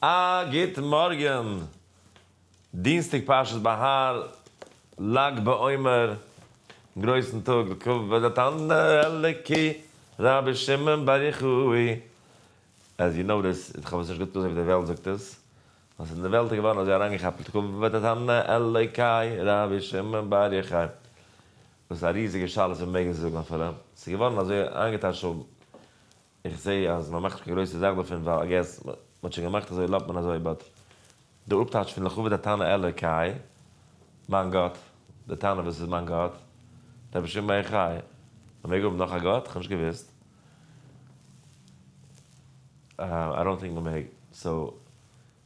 א גוט מארגען, דינסטאג פרשת בהר, לג בעומר, גרויסן טאג לכבוד התנא האלוקי רבי שמעון בר יוחאי, עז יו נאו דיס, איך האב עס נישט גוט אזוי ווי די וועלט זאגט עס, נאר ס'איז אין די וועלט געווארן אזוי אריינגעכאפט לכבוד התנא האלוקי רבי שמעון בר יוחאי, וואס איז א ריזיגע שאלה צו מ'מעג עס זאגן אפילו, ס'איז געווארן אזוי איינגעטייטשט. איך זעה אז מען מאכט נישט קיין גרויסע זאך דערפון ווייל איי געס מען האט שוין געמאכט אזוי לאט מען אזוי באט די אפטייטש פון לכבוד התנא אלא קאי מיין גאט די תנא וואס איז מיין גאט דער רבי שמעון בר יוחאי מען מעג האבן נאך א גאט? כ'האב נישט געוואוסט איי דאנט טינק מען מעג סאו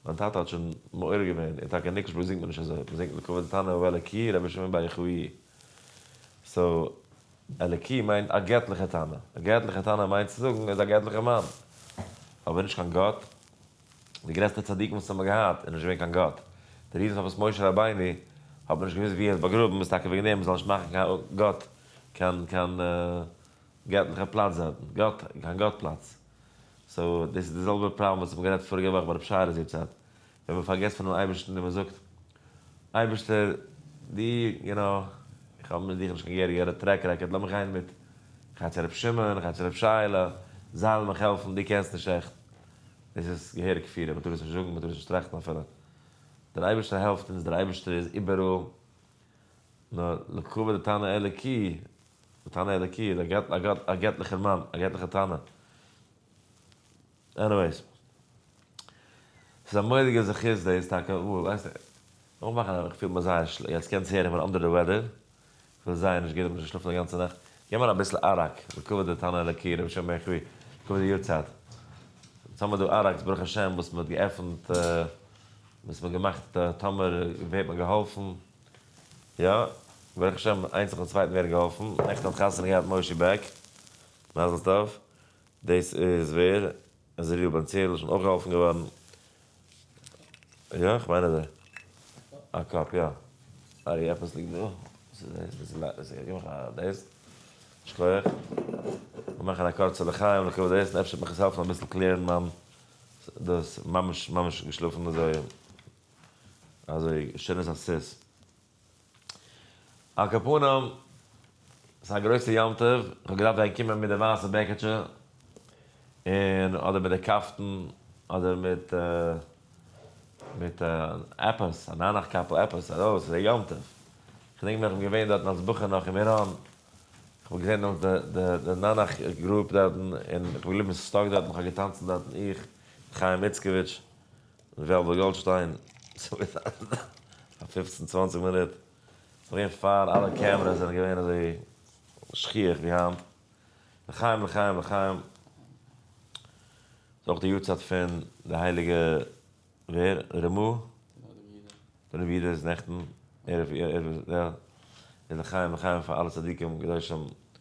מיין טאטע האט שוין מעורר געווען און טאקע ניקלשבורג זינגט מען נישט אזוי מען זינגט לכבוד התנא אלא קאי רבי שמעון בר יוחאי סאו. אלקי מיינט א געטליכע טענה. א געטליכע טענה מיינט צו זאגן ער איז א געטליכער מאן. אבער נישט קיין גאט. די גרעסטע צדיקים וואס האבן געהאט איז נישט געווען קיין גאט. די ריזן פארוואס משה רבינו האט מען נישט געוואוסט ווי ער איז באגראבן איז טאקע וועגן דעם מען זאל נישט מאכן קיין גאט קיין קיין געטליכע פלאץ דארטן. גאט קיין גאט פלאץ. סאו דאס איז די זעלבע פראבלעם וואס האט מען גערעדט פאריגע וואך ביי רב שרה'ס יארצייט. ווען מען פארגעסט פונעם אייבערשטן און מען זאגט, אייבערשטער, דו, יו נא, איך האב מיט דיך נישט קיין גערע גערע טרעק רעקארד, לאמיר גיין מיט כ'הייב צו רבי שמעון, כ'הייב צו רבי שייעלע, זיי'לן מיך העלפן, דו קענסט נישט עכט. דאס איז געהעריג כפירה, מען טאר עס נישט זאגן, מען טאר עס נישט טראכטן אפילו. דער אייבערשטער העלפט אונז, דער אייבערשטער איז איבעראל, נאר לקבוע די תנא אלוקי, די תנא אלוקי איז א געטליכער מאן, א געטליכער תנא. עניוועיס. ס'איז א מורא'דיגע זכות דאס טאקע, וואו ווייסט איר, נאכן מאכן א, כ'פיל מיר זייער שלע, יעצט קענטס הערן איך בין אנדער די וועדער, כ'בין זייער נישט גוט, כ'בין נישט געשלאפן די גאנצע נאכט, גיב מיר אביסל אראק, לקבוע דתנא אלקי, רבי שמעון בן חבי, לקבוע די יארצייט, יעצט האמיר דא אראקס ברוך השם וואס מ'האט געעפנט, וואס מ'האט געמאכט טאמער ווערט מען געהאלפן, יא, ברוך השם איינס נאכן צווייטן ווערן געהאלפן, נעכטן האט חתונה געהאט מושי בעק, מזל טוב. דאס איז ווער? איז ר' בן ציון שוין אויך געהאלפן געווארן? יא, כ'מיין אז ער. א קאפ יא. ארי עפעס ליגט דא. וואס איז דאס? דאס איז ל. דאס איז גיב מיך א דאס. שכוח. מיר מאכן א קורצע לחיים לכבוד דעס און אפשר וועט מיך עס העלפן אביסל קלערן מיין דאס. ממש ממש געשלאפן אזוי אזוי שיין איז אז ס'איז. על כל פנים, עס איז א גרויסע יום טוב, איך האב געדארפט ווען קומען מיט די ווייסע בעקעטשע, און אדער מיט די קאפטן, אדער מיט מיט עפעס, א ניינאכט קאפל, עפעס ארויס, עס איז א יום טוב. כ'דענק מיך, כ'בין געווען דארטן אלס בחור נאך אין מירון, כ'האב געזען דעמאלטס די די די ניינאכט גרופ דארטן, און כ'בין געבליבן סטאק דארטן, כ'האב געטאנצן דארטן, איך מיט חיים איצקאוויטש. וועלוועל גאלדשטיין, ס'ווערט א פופצן צוואנציג מינוט, פארגעס פאר אלע קעמרעס זענען געווען אזוי שכיח ווי היינט, לחיים לחיים לחיים, ס'איז אויך די יארצייט פון די הייליגע ווער? ר מ? בן רבי אידא איז נעכטן, ערב, יא, איז לחיים לחיים פאר אלע צדיקים קדושים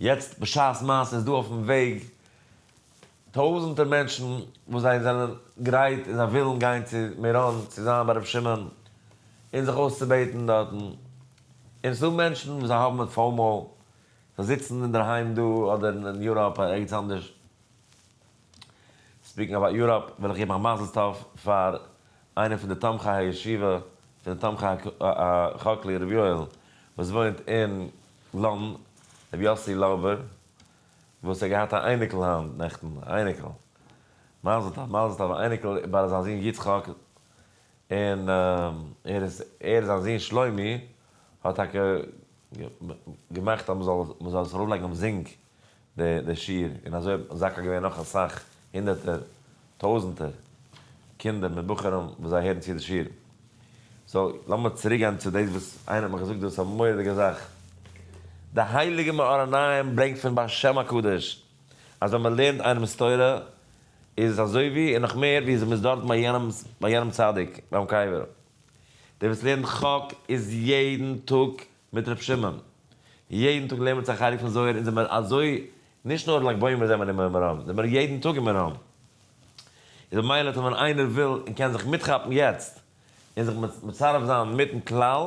יעצט בשעת מעשה איז דא אויפן וועג טויזענטער מענטשן וואס זיי זענען גרייט און זיי ווילן גיין צו מירון צו זיין ביי ר' שמעון און זיך אויסצובעטן דארטן, און ס'איז דא מענטשן וואס זיי האבן פאומאו, זיי זיצן אינדערהיים דא אדער אין יוראפ אדער ערגעץ אנדערש. ספיקינג אבאוט יוראפ, וויל איך געבן א מזל טוב פאר איינער פון די תומכי הישיבה פון די תומכי הכלי ר' יואל וואס וואוינט אין לאנדן, ר' יוסי לאובער וואס האט געהאט א אייניקל היינט נעכטן, א אייניקל, מזל טוב מזל טוב, א אייניקל ביי זיין זון יצחק, און ער איז ער זיין זון שלומי האט טאקע געמאכט אז מען זאל מען זאל עס ארויפלייגן אויף זינק. די שיעור, און אזוי האט מזכה געווען נאך אסאך הונדערטער, טויזענטער, קינדער מיט בחורים וואס זיי הערן צו די שיעור. סאו, לאמיר צוריק גיין צו דאס וואס איינער האט מיך געזאגט דאס א מורא'דיגע זאך. די הייליגע מאור עיניים ברענגט פון ביי השם הקדוש, אז ווען מען לערנט איינעמ'ס תורה, איז עס אזוי ווי, און נאך מער ווי, אז מען איז דארטן ביי יענעמ'ס, ביי יענעם צדיק, ביים קבר. דער וואס לערנט חק איז יעדן טאג מיט ר' שמעון. יעדן טאג לערנען מיר צו א חלק פון זוהר און זעמער אזוי נישט נאר לג בעומר זעמער אין מירון זעמער יעדן טאג אין מירון איז במילא טאר ווען איינער וויל און קען זיך מיטכאפן יעצט און זיך מצרף זיין מיטן כלל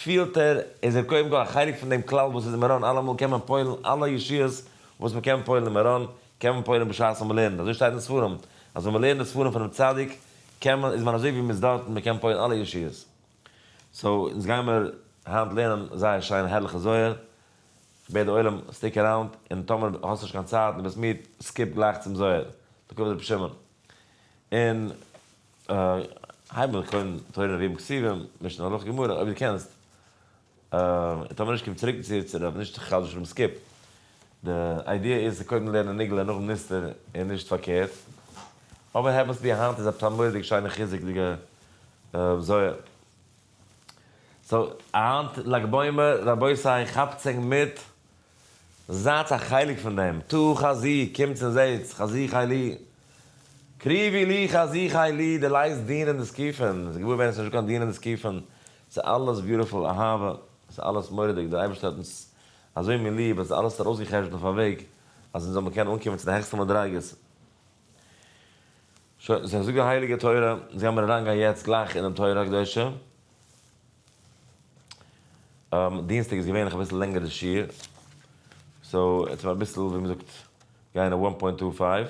פילט ער איז ער קודם כל א חלק פון דעם כלל וואס איז אין מירון אלעמאל קען מען פועל'ן אלע ישועות וואס מען קען פועל'ן אין מירון קען מען פועל'ן בשעת וואס מען לערנט אזוי שטייט אין ספרים אז ווען מען לערנט די ספרים פונעם צדיק קען מען איז מען אזוי ווי מען איז דארטן מען קען פועל'ן אלע ישועות. סאו אונז גיימער היינט לערנען זייער שיין הערליכע זוהר, איך בעט די עולם סטיק עראונד, און טאמער האסט נישט קיין צייט און ביסט מיד, סקיפ גלייך צום זוהר לקב רבי שמעון, און הייב אן קודם תורה נביאים כתובים, משנה הלכה גמרא, אויב דו קענסט, און טאמער נישט קום צוריק צו צו רב נישט חס ושלום סקיפ די איידיע איז צו קודם לערנען נגלה און נאכדעם נסתר און נישט פארקערט אבער העווענס בי היינט איז א פטרנלוידיג שיינע חיזוק'דיגע זוהר סאו היינט לג בעומר רבותי כאפטס ענק מיט זייטס א חלק פון דעם טו חזי קומטס און זעהטס חזי חי לי קריבי לי חזי חי לי די לייסט דינען די סקיפין ס'איז געוואר ווערן ס'איז נישטא קיין דינען די סקיפין ס'איז אלעס ביוטיפול אהבה, ס'איז אלעס מורא'דיג, דער אייבערשטער האט אונז אזוי מיר ליב אז ער האט אלעס ארויסגע'חשבונ'ט אויף א וועג אז אונז זאל מיר קענען אנקומען צו די העכסטע מדריגות. שוין, זיך זאגט די הייליגע תורה, אונז גיימיר אריין גיין יעצט גלייך אינעם תורה הקדושה. דינסטאג איז געווענליך אביסל לענגער די שיעור, סאו עטס האב אביסל ווי מ'זאגט גיין אוואן פוינט טו פייוו.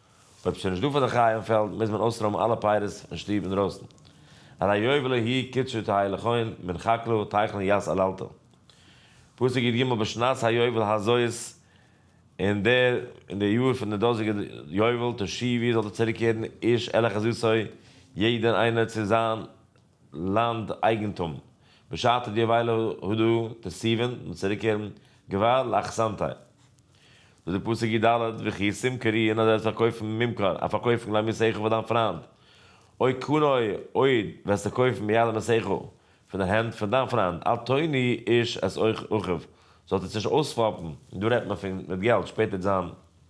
אויב ס'איז שוין נישט דא פאר די חיים פעלד מוז מען אויסרוימען אלע פייערס אין שטוב אינדרויסן. הרי יובלו הי' קדשו תהא לכהן מן חקלו טייכלן יז אללתר. פסוק י ג בשנת היובל הזאת אין די אין די יאר פון די דאזיגע יובל תשי ו זאלט איר צוריקקערן איש אל אחזותו יעדער איינער צו זיין לאנד אייגענטום בשעתו די וויילע הודו די סיווען מיט צוריקקערן געוואר לאכסנטאי דא די פסוק י ד וויכי סים קרי אין אדרעס פארקויפן ממכר א פארקויפן גלייב מיר סעכו פאר דיין פריינד אוי קנאי אויד וועסטו קויפן ביד מסעכו פון די הענט פון דיין פריינד אל תוני איש את אחיו זאלט עס נישט אויספאפן דא רעדט מען פון מיט געלט שפעטער זיין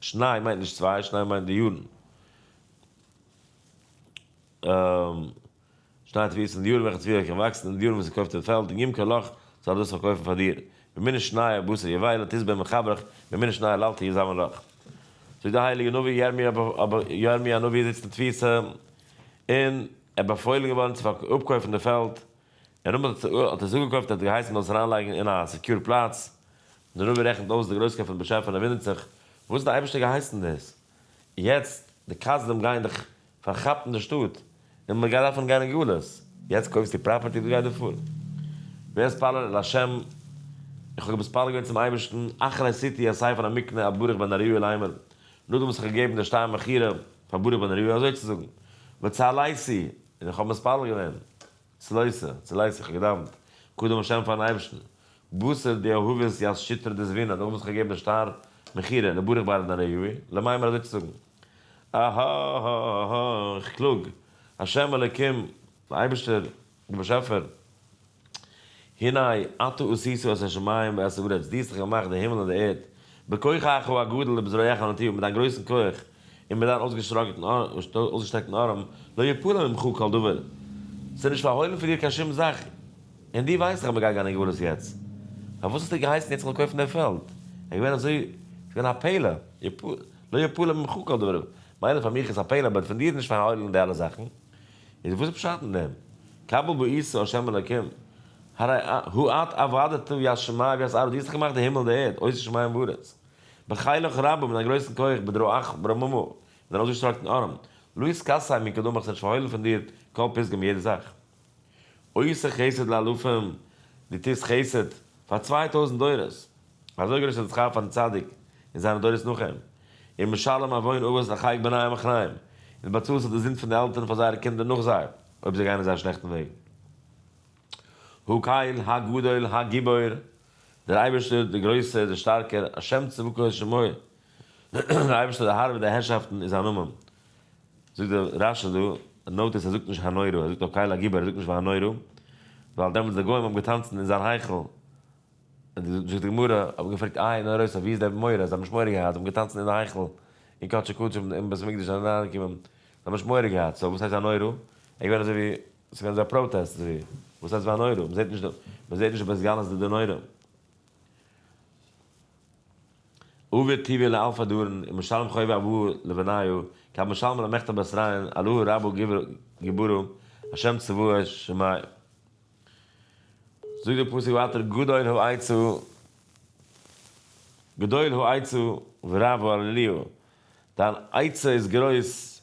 שניי מיינט נישט צוויי, שניי מיינט די יארן. שניי האט וויסן, די יארן וועלכע צוויי קען וואקסן, און די יארן וואס עס קויפט אין פעלד, און גימ ק לאך זאל ער דאס פארקויפן פאר דיר. במינה שנייה בשר יבער לא תזבע מחברך, במינה שנייה לאל תהיה זמן לך. זאגט די הייליגע נביא, ירמיה הנביא איז זיצן אין תפיסה, און ער איז באפוילן געווארן צו אפקויפן די פעלד, און אמאל האט ער עס אפגעקויפט, ער האט געהייסן מען זאל עס אריינלייגן אין א סעקיור פלאץ, דער נביא רעכנט אויס די גרויסקייט פון דעם באשעפער און ער וואונדערט זיך, וואס האט דער אייבערשטער געהייסן דאס? יעצט, די כסדים גייען דיך פארכאפן די שטאט, און מען גייט דארפן גיין אין גלות. יעצט קויפסטו פראפערטי, וואס גייט דיר פאר? ווער איז פאלל אל השם? איך האב געמתפלל געווען צום אייבערשטן, אכן עשיתי א ספר המקנה אויף ברוך בן נריה ליימער, נאכדעם וואס איך האב געגעבן די שטר מכירה פאר ברוך בן נריה, אזוי צו זאגן, וצהלייסי, און איך האב מתפלל געווען, צלייסער, צולייס, איך האב געדאוונט, קדם השם פארן אייבערשטן, בשר די אהובות יז שיטרא דזווינא, דער וואס האט געגעבן די שטר מכירה, לברך בעל ענן היובי, למאי מיר אזוי צו זאגן. אההההההה, איך קלאג, השם אלקים, דער אייבערשטער, דער באשעפער, הנה אתה עשיתו את השמים ואת הארץ, דו האסט דאך געמאכט די הימל און די ערד, בכוחך הגדול ובזרועך הנטויה, מיט דיין גרויסן כח, און מיט זיין אויסגעשטרעקטן ארעם, לא יפול עלי ממך כל דבר, ס'איז נישט פארהוילן פון דיר קיין שום זאך, און דו ווייסט דאך אז מ'גייט גיין אין גלות יעצט, פארוואס האסטו געהייסן יעצט זאל איך קויפן די פעלד, עס איז געווען אזוי, עס איז געווען א פלא, לא יפול עלי ממך כל דבר, מילא פאר מיך איז עס א פלא, אבער פון דיר נישט פארהוילן די אלע זאכן, איז וואס איז פשט אין דעם, קבל בעשה ה' אלוקים, הרי הוא את עבדתו ישמע ויסער, דו האסט דאך געמאכט די הימל און די ערד, עושה שמים וארץ, בחילך רבה מיט א גרויסן כח בדרא עכ פ רמ מ און ארויסגעשטראקט אין ארעם לוי'ס קאסע מי כדמך ס'נישט פארהוילן פון דיר כל פסגה מיט יעדע זאך עושה חסד לאלפים דו טוסט חסד פאר צוויי טויזנט דורות אזוי גרויס איז די שכר פארן צדיק און זיינע דורות נאך אים און משלם עוון אבות לחייק בניי המחניים און באצאלסט אויף די זינד פון די עלטערן פאר זייערע קינדער נאך זיי אויב זיי גייען אין זייער שלעכטן וועג הקהל הגדול הגיבור. דער אייבערשטער, דער גרויסער, דער שטארקער, השם צבקות שמו, דער אייבערשטער דער האר ווער די הערשאפטן איז זיין נאמען, זאגט דער רש ש דא, נאוט עס ער זאגט נישט הנורא, ער זאגט נאר קהל הגיבור, ער זאגט נישט והנורא, ווייל דעמאלטס די גוים האבן געטאנצן אין זיין היכל, זאגט די גמרא, האבן געפרעגט איי נורא'ס ווי איז דער מורא, זיי האבן נישט מורא געהאט, זיי האבן געטאנצן אין די היכל, אין קדשי קדשים אין בית המקדש זיי זענען אריין געקומען, זיי האבן נישט מורא געהאט, סאו וואס הייסט הנורא, ער איז געווען אזוי ווי. עס איז געווען אזא פראטעסט זי וואס הייסט וואו א נורא מ'זעט נישט מען זעט נישט בית גלות די די נורא אויבער טביה לאלפא דארן און משלם חובה אבוה לבניו כב משלמא למכתב בית ריין אלוה רבו גיבורו השם צבאות שמאי זאגט די פסוק ווייטער גדול הוא איצו גדול הוא איצו ורב הוא אליהו דיין איצו איז גרויס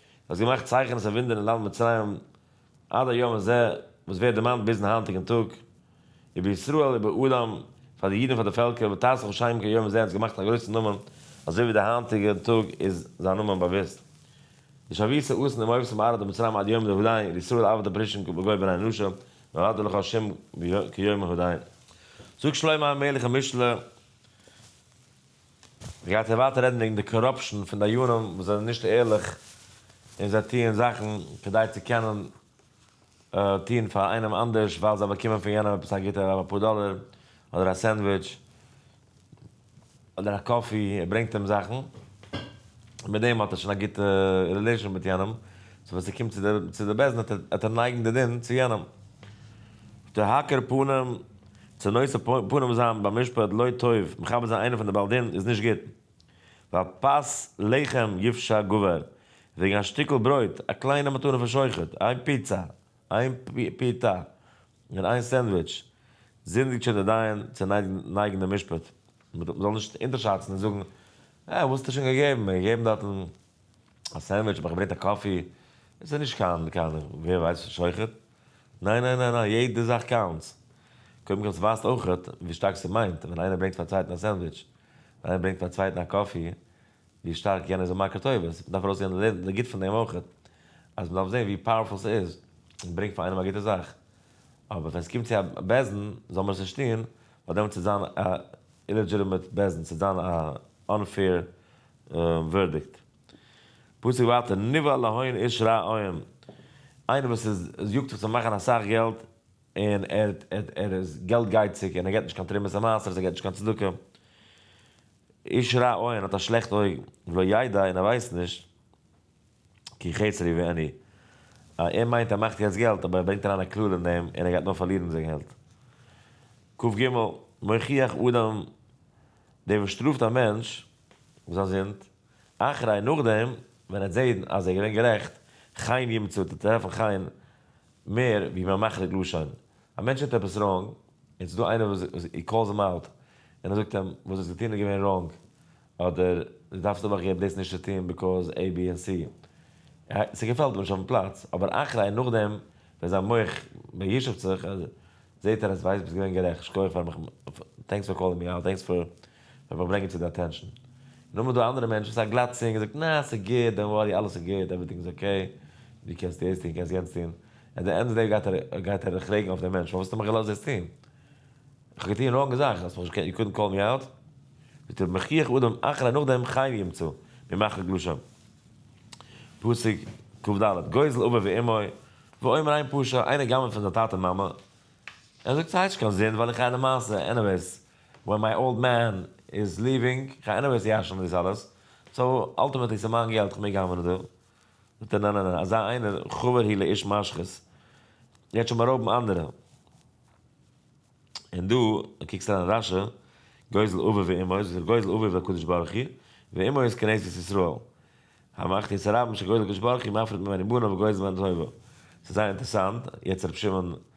האסט געמאכט צייכענעס און וואונדערן אין לאנד מצרים עד היום הזה, וואס ווערט דערמאנט ביזן היינטיגן טאג, איבער ישראל איבער אדם, פאר די אידן פאר די פעלקער, ותעשך לשם כיום הזה האסט געמאכט א גרויסן נאמען, אזוי ווי די היינטיגע טאג איז זיין נאמען באוויסט. ושבית אסן עם אויבסם בארץ מצרים עד יום זה הודיין על ישראל עבד הפרישין בגוי בן האנושה נולד לך השם כיום הודיין זאגט שלמה המלך אין משלי, גייט ער ווייטער רעדן וועגן די קאראפשן פון דיינים וואס זענען נישט ערליך און זיי טוען זאכן כדי צו קענען טון פאר איינעם אנדערש ווייל זיי באקומען פון יענעם עפעס א גוטע אויב אפאר דאלער אדער א סענדוויטש אדער א קאפי ער ברענגט אים זאכן מיט דעם האט ער שוין א גוטע רילעישאן מיט יענעם סאו ווען ס'קומט צו די צו די בית דין וועט ער נייגן די דין צו יענעם. די האקער פנים צו נושא פנים זיין ביים משפט לא טוב, מכבד זיין איינעם פון די בעל דין איז נישט גוט, ווייל פת לחם יפשע גבר, וועגן א שטיקל ברויט, א קליינע מתנה פון שוחט, איין פיצא, איין פיתה, און איין סענדוויטש, זינדיגט שוין דער דיין צו נייגן דעם משפט, מען זאל נישט אונטערשאצן און זאגן, אה, וואס האסט דיר שוין געגעבן, מיר האט געגעבן דארטן א סענדוויטש, האב איך געברענגט א קאפי, עס איז נישט קיין קיין ווער ווייסט וואס שוחט. ניין ניין ניין ניין יעדע זאך קאונטס. קודם כל ס'ווייזט אויכעט ווי שטארק ס'מיינט ווען איינער ברענגט פאר צווייטן א סענדוויטש, ווען איינער ברענגט פאר צווייטן א קאפי, ווי שטארק יענער איז א מכר טובות. מ'דארף ארויסהערן די גוט פון דעם אויכעט. אז מ'דארף זען ווי פאוערפול ס'איז. ברענג פאר איינעם א גוטע זאך. אבער ווען ס'קומט צו א בעזן, זאל מען עס נישט טון, ווייל דעמאלטס וועט זיין א אילעדזשיטעמעט בעזן, ס'וועט זיין א אנפעיר ווערדיקט. פסוק ווייטער, נבהל להון איש רע עוהם, איינער וואס איז יאגט זיך צו מאכן אסאך געלט, און ער ער איז געלט גייציג, און ער געבט נישט קיין תרומות און מעשרות, ער געבט נישט קיין צדקה, איש רע עוהם האט א שלעכט אויג, ולא ידע און ער ווייסט נישט, כי חסר לי ואין לי, ער מיינט ער מאכט יעצט געלט, אבער ער ברענגט אריין א קללה אין דעם, און ער גייט נאר פארלירן די געלט. ק ג, מוכיח אדם, דער וואס שטראפט א מענטש, וואס איז א זינד? אחרי נאכדעם ווען ער האט זעהן אז ער איז געווען גערעכט, חיין ימצא, טוט ער טרעפן חיין מער ווי מען מחליק לשון, א מענטש טוט עפעס ראנג, און ס'איז דא איינער וואס הי קאלס הים אוט, און ער זאגט אים, וואס דו האסט געטון איז געווען ראנג, אדער דו דארפסט אבער אויך דאס נישט צו טון ביקאוז עי בי ענד סי, ס'געפעלט אים נישט אויפן פלאץ, אבער אחרי נאכדעם ווען זיין מח מיישב'ט זיך, זעהט ער אז ווייסט ביסט געווען גערעכט, שקויעך פאר מיך, טענקס פאר קאלינג מי אוט, טענקס פאר. מען וויל ברענגען צו די אטענשאן. און אמאל איז דא אנדערע מענטשן, ס'איז א גלאט צינג, ער זאגט, נע, ס'איז גוט, דאנט ווארי, אלעס איז גוט, עווערטינג איז אקעי, דו קענסט דאס טון, קענסט יענץ טון. עט די ענד אוו די דעי גייט ער פרעגן אויף דעם מענטש, פארוואס האסטו מיך געלאזט דאס טון? איך האב געטון ראנג זאכן, האסט מיך נישט געקענט, יו קודנט קאלד מי אוט? זאגט ער, מחיך אדם אחרי נאכדעם חיים ימצא, ממחר גלשום. פסוק קד, גוזל אביו ואמו, ואומר עיין פשע, איינער גנב'ט פון זיין טאטע מאמע, ער זאגט ס'הייסט נישט קיין זינד ווייל איך רייד א מעשה, עניוועיס, ווען מיי אולד מען איז ליווינג, איך האב עניוועיס צו יאשן דאס אלעס, סאו אלטימעטלי ס'איז מיין געלט, כ'מעג האמערן דא. זאגט ער נע נע נע, אזא איינער חבר הוא לאיש משחית, גייט שוין בארויבן אנדערע. און דא קוקסט אריין רשע, גוזל אביו ואמו, איז דער גוזל אביו הקדוש ברוך הוא, ואמו איז כנסת ישראל. המחטיא את הרבים שגוזל הקדוש ברוך הוא מפריד ממני בנו וגוזל ממנו את אוהבו. ס'איז זייער אינטערסאנט, יעצט ר' שמעון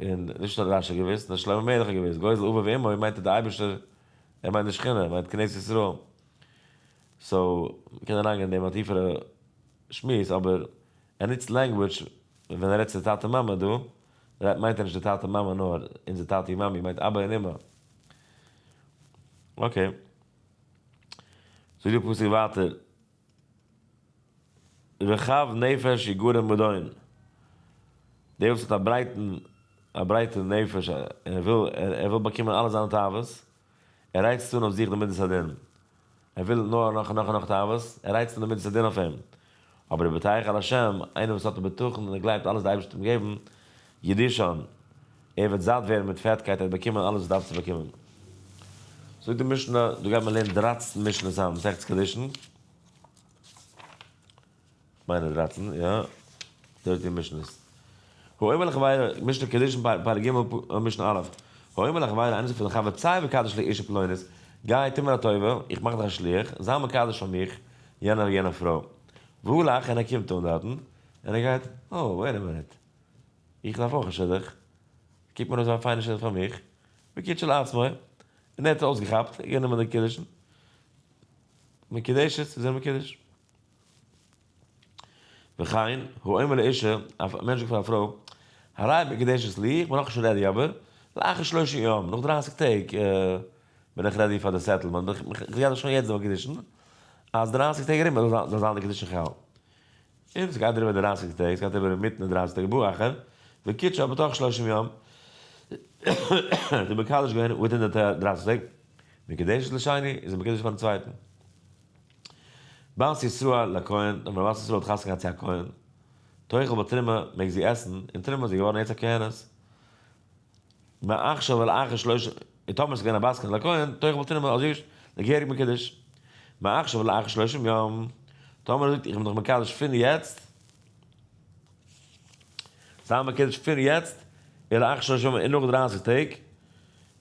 און נישט נאר רשי האט געוואוסט, נאר שלמה המלך האט געוואוסט, גוי זל אביו ואמו מיינט אז די אייבערשטער, ער מיינט די שכינה, ער מיינט כנסת ישראל. סאו, מ'קען אריינגיין אין דעם א טיפערע שמועס, אבער ער נוצט לענגוויטש ווען ער רעדט צו טאטע מאמע דא, רעדט מיינט ער נישט די טאטע מאמע נאר אונזער טאטע און מאמי, ער מיינט אבא און אמא. אקעי. זאגט דער פסוק ווייטער. רחב נפש יגון מדון, דער וואס האט א ברייטן א ברייטע נפש און ער וויל ער וויל באקומען אלע זיינע תאוות, ער רייצט אן אויף זיך די מדת הדין, ער וויל נאר נאך און נאך און נאך תאוות, ער רייצט אן די מדת הדין אויף אים, אבער דער בטח אל השם, איינער וואס האט א בטחון און ער גלייבט אלעס די אייבערשטער וועט אים געבן, ידישאן, ער וועט זאט ווערן מיט פעטקייט, ער וועט באקומען אלעס וואס דארף צו באקומען. זאגט די משנה, דא גייט מען לערנען דרײַצן משנות היי מסכת קידושין, כ'מיין איז דרײַצן, יא, דרײַצן משנות. האומר לחבירו, משנה קידושין פרק ג' משנה א', האומר לחבירו, איינער זאגט פאר זיין חבר, צא וקדש לי אשה פלונית, גיי טו מיר א טובה, איך מאך דיך א שליח, זיי מקדש פאר מיך יענער יענע פרוי. והוא הלך און ער קומט אן דארטן, און ער גייט, אוי, וועיט א מינוט, איך דארף אויך א שידוך, קוק מיר אויס א פיינע שידוך פאר מיך, בקיאות שלעצמו, און ער האט עס אויסגעכאפט, גענומען די קידושין, מקודשת, איז ער מקודש. וכן, הוא אומר לאישה, א מענטש זאגט פאר א פרוי, הריי מקודשת לי, איך בין נאכנישט רעדי אבער, לאחר שלושים יום, נאך דרייסיג טעג, בין איך רעדי פאר די סעטעלמענט, איך גיי דיך שוין יעצט דערמאן קידושין, אז דרייסיג טעג ארום זאל זיין די קידושין חל. און ס'גייט דעריבער דרײַסיק טעג, ס'גייט אריבער אינמיטן די דרײַסיק טעג בא אחר וקידשה בתוך שלושים יום, האט ער מקדש געווען וויטין די דרײַסיק טעג, מקדשת לשני, איז ער מקדש פארן צווייטן בת ישראל לכהן, און ווען א בת ישראל האט חתונה געהאט צו א כהן, תאכל בתרומה, מעג זי עסן, און תרומה איז זי געווארן יעצט א כהנת. מעכשיו אל אחר שלושה און טאמער ס'איז געווען א בת קול לכהן תוך וואלט אינעם אזוי געשט די געהעריג מקדש מעכשיו אל אחר שלושים יום טאמער ער זאגט איך בין דיך מקדש פון יעצט זיין מקדש פון יעצט אל אחר שלושה יום און נאך דרייסיג טעג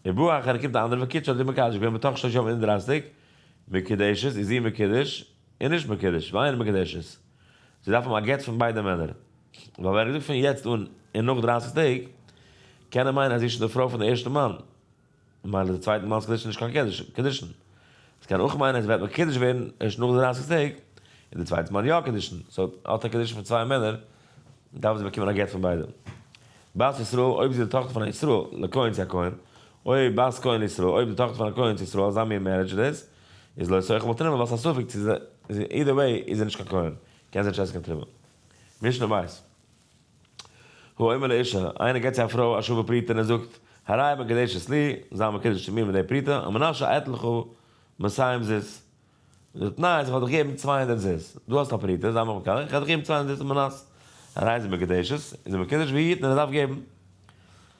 און בא אחר קומט די אנדערע וואס קוטש האט זי מקדש געווען בתוך שלושה יום און דרייסיג מקודשת איז זי מקודש און נישט מקודש ואין מקודשת זיי דארפן א גט פון ביידע מענער, ווייל ווען ער געזאגט פון יעצט אן און נאך דרייסיג טעג, קען ער מיינען אז זי איז שוין די פרוי פון די ערשטע מאן, ממילא איז די צווייטע מאן'ס קידושין נישט קיין קידושין. עס קען אויך מיינען אז זי וועט מקודש ווערן ערשט נאך די דרייסיג טעג, איז די צווייטע מאן יא קידושין, סאו האט ער קידושין פון צוויי מענער, דארף זי באקומען א גט פון ביידע. בת ישראל, אויב זי איז די טאכטער פון א ישראל, לכהן צו א כהן, אוי בת כהן לישראל, אויב די טאכטער פון א כהן צו ישראל, אזא מין מערידזש איז דאס, איז לא יסעוך בל תרימא ווייל ס'איז א ספק צו זי אידער וועי איז ער נישט קיין כהן קען זי נישט עסן קיין תרומה. משנה ב' הוא אומר לאישה איינער געבט צו א פרוי א שווה פרוטה און ער זאגט הריי מקדשת לי זיי מקדש צו מיר מיט די פרוטה המנשה אתן לך מאתיים זוז די תנאי איז איך וועל דיך געבן צוויי הונדערט זוז דו האסט א פרוטה זיי מיך מקדש איך וועל דיך געבן צוויי הונדערט זוז מנת הריי איז ער מקדשת איז ער מקדש ווי היתן ער דארף געבן.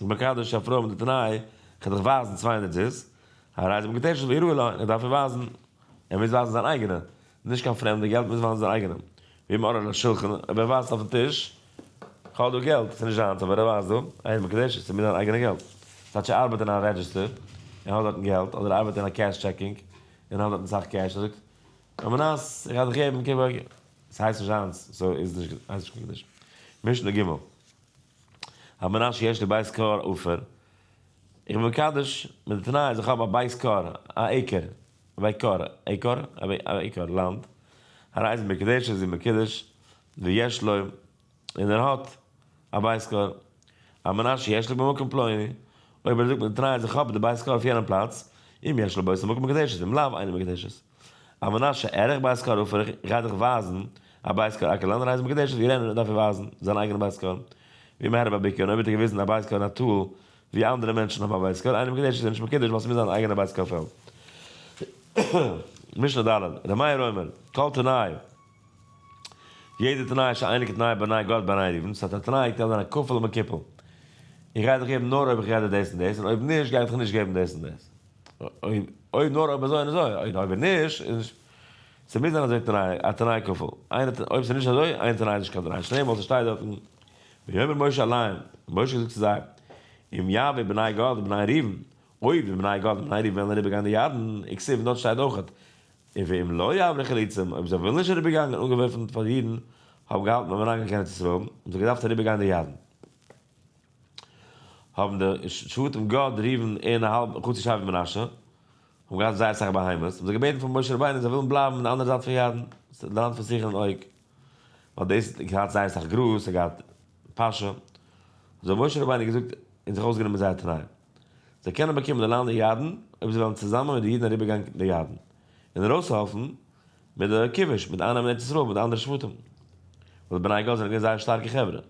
מקדש א פרוי מיט די תנאי, כ'על דיך ווייזן צוויי הונדערט זוז, הרי זה מקדשת ויראו לו, ער דארף איר ווייזן, ער מוז ווייזן זיין אייגענע, נישט קיין פרעמדע געלט, מוז ווייזן זיין אייגענע, ווי מראה על השולחן, אויב ער ווייזט אויפן טיש, כ'האב דא געלט, ס'נישט זיינס, אבער ער ווייזט דא, איי די מקדשת, ס'מוז זיין אייגענע געלט, ס'הייסט זי ארבעט אין א רעדזשיסטער, און האט דארטן געלט, אדער ארבעט אין א קעש טשעקינג, און האט דארטן סאך קעש, ער זאגט, און מען אז ער גייט דיך געבן, ס'הייסט נישט זיינס, סאו איז נישט, הייסט נישט קיין מקדש. משנה ג. הרב מנשה יש לי בית קאר אפער, איך בין מקדש מיט די תנאי אז איך האב א בית קאר, א עיקער, אווי קאר, עיקאר, אווי א עיקאר, לאנד, הרי זו מקדשת זו מקדש, ויש לו, און ער האט, א בית קאר, הרב מנשה יש לי במקום פלוני, אויב ער זאגט מיט די תנאי אז איך האב די בית קאר אויף יענעם פלאץ, אם יש לו בית המקום מקדשת, אם לאו אינו מקדשת. א מנשה ערך בית קאר אפער איך גיי דיך ווייזן א בית קאר אקער לאנדאן רייז מקדעש האט גערענט און דארף איר ווייזן זיין אייגענע בית קאר ווי מהר א ביי ביקער און אויב האט ער געוויזן א בית קאר אין א טאל ווי אנדערע מענטשן האבן א בית קאר איינער מקדעש איז ער נישט מקדש ווייל ס'מוז זיין אן אייגענע בית קאר פעלד משנה ד' ר' מאיר אומר כל תנאי יעדע תנאי איז שוין אייניגע תנאי בעניי גאט בעניי אידן, ס'האט א תנאי איך קען זיין א כפל ומכופל, איך גיי דיך געבן נאר אויב איך רעדע דאס און דאס, און אויב נישט גיי איך דיך נישט געבן דאס און דאס, אוי נאר אויב אזוי און אזוי, און אויב נישט איז נישט, ס'מוז זיין אזוי תנאי, א תנאי כפול, איין ת, אויב ס'נישט אזוי איין תנאי איז נישט קיין תנאי, שנעל מאל ס'שטייט דארטן, ויאמר משה אליהם, משה זאגט צו זיי, אם יעביר בני גד ובני ראובן, אויב די בני גד און בני ראובן וועלן אריבער גיין די ירדן, און כסוף און דארט שטייט אויכעט, און ואם לא יעברו חלוצים, אויב זיי ווילן נישט אריבערגאנגען אנגעווארפן פאר די אידן האבן געהאלטן ביים אריינגיין קיין ארץ ישראל, האבן זיי געדארפט אריבערגיין די ירדן. האבן די שבטים גאד, ראובן און א האלב חצי שבט מנשה, האבן געהאט זייער אסאך בהמות, האבן זיי געבעטן פאר משה רבינו זיי ווילן בלייבן אין די אנדערע זייט פון ירדן, די לאנד פון סיחון און אוג, ווייל דאס האט געהאט זייער אסאך גראז, עס האט געהאט פאשע, האט זיי משה רבינו געזאגט און זיך אויסגענומען זייער תנאים. זיי קענען באקומען די לאנד אין ירדן אויב זיי וועלן צוזאמען מיט די אידן אריבערגיין די ירדן און ארויסהעלפן מיט די כיבוש מיט אייננעמען ארץ ישראל מיט די אנדערע שבטים ווייל די בני גד זענען געווען זייער שטארקע חברה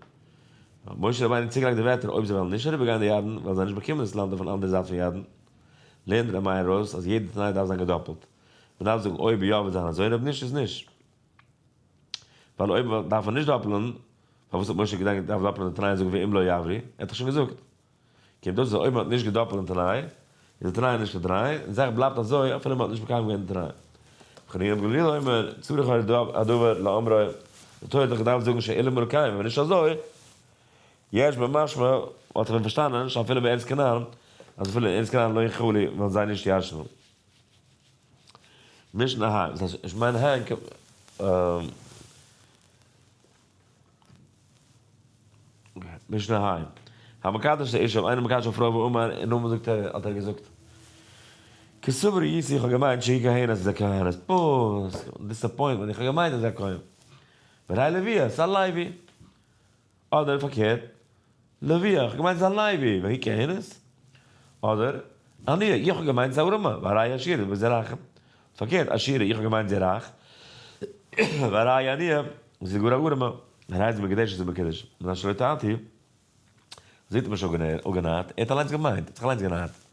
האט משה רבינו צוגעלייגט די ווערטער אויב זיי וועלן נישט אריבערגיין די ירדן וועלן זיי נישט באקומען דאס לאנד אויפן אנדערע זייט פון ירדן לערנט ר' מאיר אויס אז יעדע תנאי דארף זיין געדאפלט מען דארף זאגן אויב יא וועט זיין אזוי און אויב נישט איז נישט ווייל אויב דארף מען נישט דאפלען פארוואס האט משה געדאנקט דארף דאפלען די תנאי און זאגן ואם לא יעברי ער האט דאך שוין געזאגט. קומט אויס אז אויב מען האט נישט געדאפלט די תנאי, איז די תנאי נישט א תנאי, און די זאך בלייבט אזוי אפילו מען האט נישט מקיים געווען די תנאי. וכן איוב גלילי אומר, צריך היה הדבר לאמרו, די תורה האט דאך געדארפט זאגן שאין אמור לקיים, און ווען נישט אזוי, יש בה משמע, האט ער ווען פארשטאנען שאפילו בארץ כנען, אז אפילו אין ארץ כנען לא יכלו וועלן זיי נישט ישנו. משנה ה, דאס הייסט, איך מיין ה, משנה ה', המקדש את האישה, איינער מקדש א פרוי ואמר, און נאכדעם זאגט ער, האט ער געזאגט, כסברי איסי, איך האב געמיינט שהיא כהנת, אז זי איז א כהנת, פוס, דיסעפוינטמענט, איך האב געמיינט אז זי איז א כהן, והרי לוויה, סא לייבי, אדער פארקערט, לוי, איך האב געמיינט ס'איז א לייבי, והיא כענת. אדער, אני, איך האב געמיינט ס'איז א ארעמע, והראיה עשירים וזה רחם. פארקערט, עשירה, איך האב געמיינט זי איז רייך, והראיה ענייה, זי איז גאר א ארעמע. הרייז מקדשת זי מקדש, מנין שלא טענתי, זי האט אים נישט אפגענארט, ער האט אליינס געמיינט, ער האט זיך אליינס גענארט.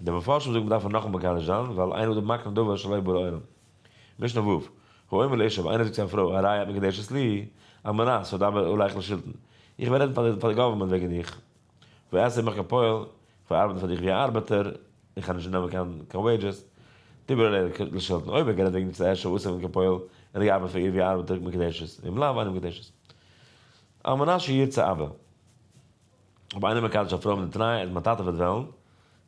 די מפרשים זאגן מ'דארף נאכמאל מקדש זיין ווייל איינער האט מקנה דבר שלא יבא לעולם. משנה ו', האומר לאשתו ווען איינער זאגט צו א פרוי הרי את מקודשת לי, על מנת ס'זאל דבר עליך לשלטון, איך וועל רעדן פאר די גאווערמענט וועגן דיך, ואעשה עמך כפועל, איך וועל ארבעטן פאר דיך ווי א ארבעטער, איך וועל נישט נעמען קיין קיין וועידזשעס, דבר עליך לשלטון, אויב האט גערעדט וועגן די צוויי אשתו ועשה עמך כפועל, ער האט געארבעט פאר איר ווי א ארבעטער מקודשת, ואם לאו אינה מקודשת. על מנת שירצה אבא. האב איינער מקדש א פרוי מיט די תנאי אז מיין טאטע וועט וועלן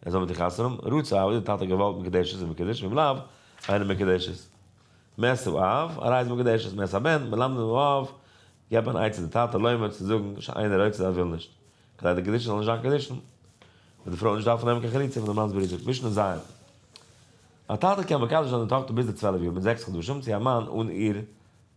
ער זאל מיט איר חתונה האבן, רצה אב איז די טאטע געוואלט מקדשת איז מקודש ואם לאו אינו מקדשת מעשיו אב ארעי איז מקדשת מעשה הבן מלמדים הוא אב געב אן עצה די טאטע לומר צו זאגן שאינו רוצה ער וויל נישט כדי די קדישין זאל נישט זיין קדישין וועט די פרוי נישט דארפן נעמען קיין חליצה פון די מאנ'ס ברית'דיג משנה ז' א טאטע קען מקדש זיין די טאכטער ביז די צוועלף יאר מיט זעקס חדשים צו א מאן אן איר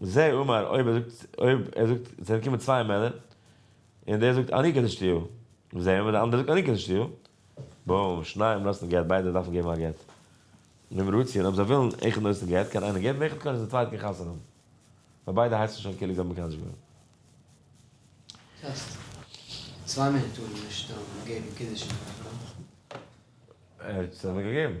זה אומר אויב ער זאגט אויב ער זאגט זענען געקומען צוויי מענער און דער זאגט אני קדשתיהו זה אומר דער אנדערער זאגט אני קדשתיהו בום שניהם נושאים גט ביידע דארפן געבן א גט וועם רוצין אויב זיי ווילן איכער נושא גט קען איינער געבן איכער קען די צווייטע גיין חתונה האבן ווייל ביידע הייסן שוין כאילו זיי האבן מקדש געווען. טעסט, צוויי מענער טארן נישט געבן קידושין פאר א פרוי? ער האט עס אבער געגעבן.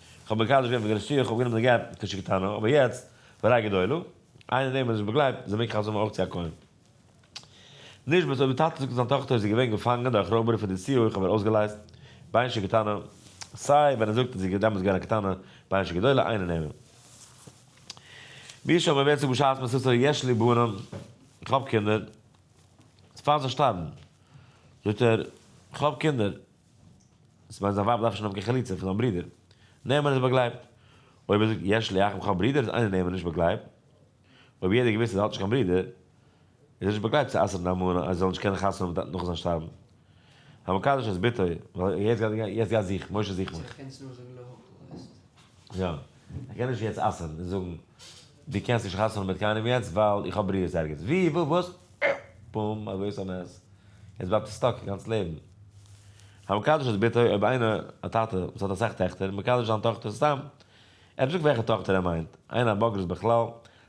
כ'האב מקדש געווען פאר דער נסיעה, כ'האב גענומען די גט כש כ טענה, אבער יעצט, בריי גדולה, איינער דעם האט נישט באגלייבט, זיי מעג חתונה מאכן אויך צו א כהן. נישט בס אויב די טאטע זאגט אז זיין טאכטער איז געווען געפאנגען דורך ראובערי פאר די נסיעה אויך אבער אויסגעלייזט, ביי ש כ טענה, סיי ווען ער זאגט אז זי איז דעמאלטס געווען א קטנה, ביי ש כ גדולה, איינער נעמען. מי שאמר ווער זאגט בשעת מסיתו יש לי בנים, כ'האב קינדער, פאר זיי שטארבן, זאגט ער, כ'האב קינדער, ס'מיינט זיין ווייב דארף נישט נפקא חליצה פון זיין ברודער נעמען איז באגלייבט. אויב ער זאגט יש לי אח בכלל ברודער איז איינער נעמען נישט באגלייבט. אויב יעדער האט געוואוסט אז ער האט נישט קיין ברודער איז ער נישט באגלייבט צו אסר'ן די אלמנה אז זי זאל נישט קענען חתונה האבן מיט טאטן נאך זיין שטארבן. המקדש את בתו ווייל יעצט גייט זיך משה זיך מיך. יא ער קען נישט יעצט אסר'ן און זאגן. דו קענסט נישט חתונה מיט קיינעם יעצט ווייל איך האב ברירות ערגעץ ווי וואו וואס פוםם א גרויסע נס יעצט בלייבט ער סטאק א גאנץ לעבן המקדש את בתו אויב איינער א טאטע וואס האט אסאך טעכטער מקדש זיין טאכטער סתם ער האט נישט געזאגט וועלכע טאכטער ער מיינט איינער א בגרות בכלל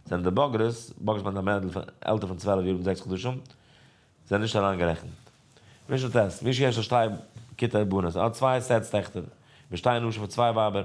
זענען די בגרות בגרות מיינט א מיידל פון עלטער פון צוועלף יאר מיט זעקס חדשים זענען נישט אריינגערעכנט מי שטעסט מי שיש לו שתי כיתה בנות ער האט צוויי סעטס טעכטער ושתי נשים פון צוויי ווייבער.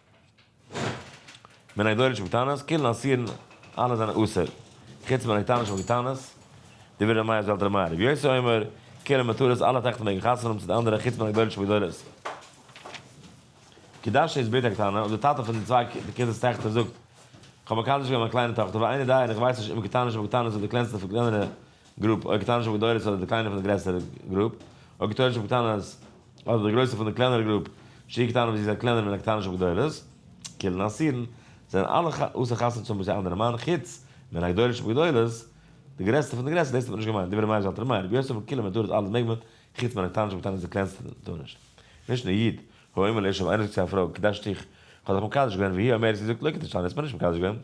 מן הגדולות שבקטנות, קילן אסירן אלע זענען אסור, חוץ מן הקטנות שבקטנות, דברי ר' מאיר זלת ר' מאיר ר' יוסי אומר, כולן מתורות אלע טעכטער מעגן חתונה האבן צו די אנדערע חוץ מן הגדולות שבגדולות. קידשתי את בתי הקטנה, און די טאטע פון די צוויי כיתות טעכטער זאגט, כ'האב מקדש געווען מיין קליינע טאכטער, ואיני דיין, איך ווייס נישט אם קטנות שבקטנות איז די קלענסטע פון קלענערע גרופּ, אָ קטנה שבגדולת אָדער די קליינע פון דער גרעסערער גרופּ, אָ קטנה שבקטנה אָדער די גרויסע פון דער קלענערער גרופּ, שהיא קטנה וואָס זי איז אַ קלענער מן הקטנה שבגדולת, כולן אסורן, זענען אַלע אָסור חתונה צו האָבן מיט אַן אַנדערן מאַן, חוץ מן הגדולה שבגדולת, די גרעסטע פון די גרעסערע, דאָס האָט מען נישט געמיינט, דברי מאיר זלטער מאיר, רבי יוסף פון קילען מ'טאָר עס אַלעס מעג מען, חוץ מן הקטנה שבקטנה איז די קלענסטע טאָר נישט. נישט נאָר איד, הוא אומר לאישה, ווען איינער זאָגט צו אַ פרוי, קידשתי, כ'האָב דיך מקדש געווען, והיא אומרת, זי זאָגט, לא קידשתני, האָסט מיר נישט מקדש געווען.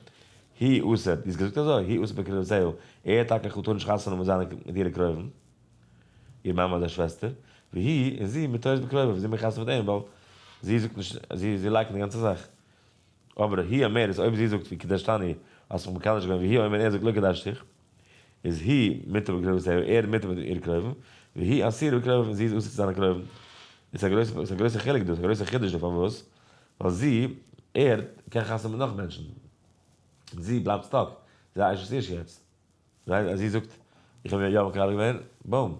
הי אסר, דו האסט געזאגט אזוי, הי אסר בקרבת זייו, ער האט טאקע כ'זאל טאר נישט חתונה מיט זיינע מיט אירע קרובים, איר מאמע אדער שוועסטער, והיא, און זי, מתרת בקרובה, ווי זי מאכט חתונה מיט אים, ווייל זי זאגט נישט, זי זי לייקנט די גאנצע זאך. אבער הי אומר, איז אויב זי זאגט ווי קדשתני, האסט מיך מקדש געווען, והיא אומר, און ער זאגט לא קדשתיך. איז היא מיתה בקרבת עהו, ער איז מיתה מיט איר קרובים, והיא אסירה בקרבו און זי איז אסור צו זיין א קרובים. איז א גרויסע חילוק דאס, א גרויסע חידוש דא, פארוואס? ווייל זי, ער, קען חתונה מיט נאך מענטשן. און זי בלייבט סטאק, זי איז א אשת איש יעצט. זי זאגט, איך האב יא מקבל געווען, בום.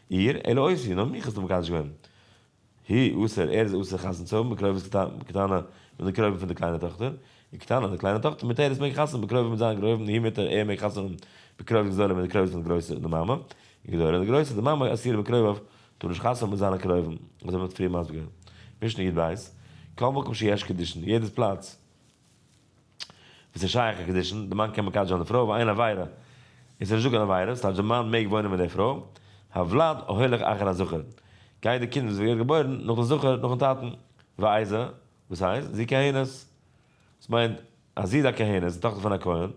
איר, אלא אותי, נאר מיך האסטו מקדש געווען. היא, אסור, ער איז אסור חתונה צו האבן בקרובת קטנה מיט די קרובים פון די קליינע טאכטער, און קטנה, די קליינע טאכטער, מיט ער איז מעג חתונה בקרובת מיט זיין גרויבן, היא מיט ער, ער מעג חתונה האבן בקרובת גדולה מיט די קרובים פון די גרויסע, די מאמע, און גדולה, די גרויסע, די מאמע, אסירה בקרוביו, טאר נישט חתונה האבן מיט זיינע קרובים, אזוי ווי מ'האט פריער מסביר געווען. משנה יב בית, כל מקום שיש קידושין, יעדעס פלאץ, וואס איז שייך א קידושין? די מאן קען מקדש זיין די פרוי אויף איין עבירה, איז עס נישט דא קיין עבירה, ס'טייטש די מאן מעג וואוינען מיט די פרוי, הוולד הולך אחר הזכר, גייט די קינד וואס ווערט געבוירן נאך די זכר נאכן טאטן, ואיזה, וואס הייסט? זי כהנת, וואס מיינט אז זי איז א כהנת, זי איז טאכטער פון א כהן,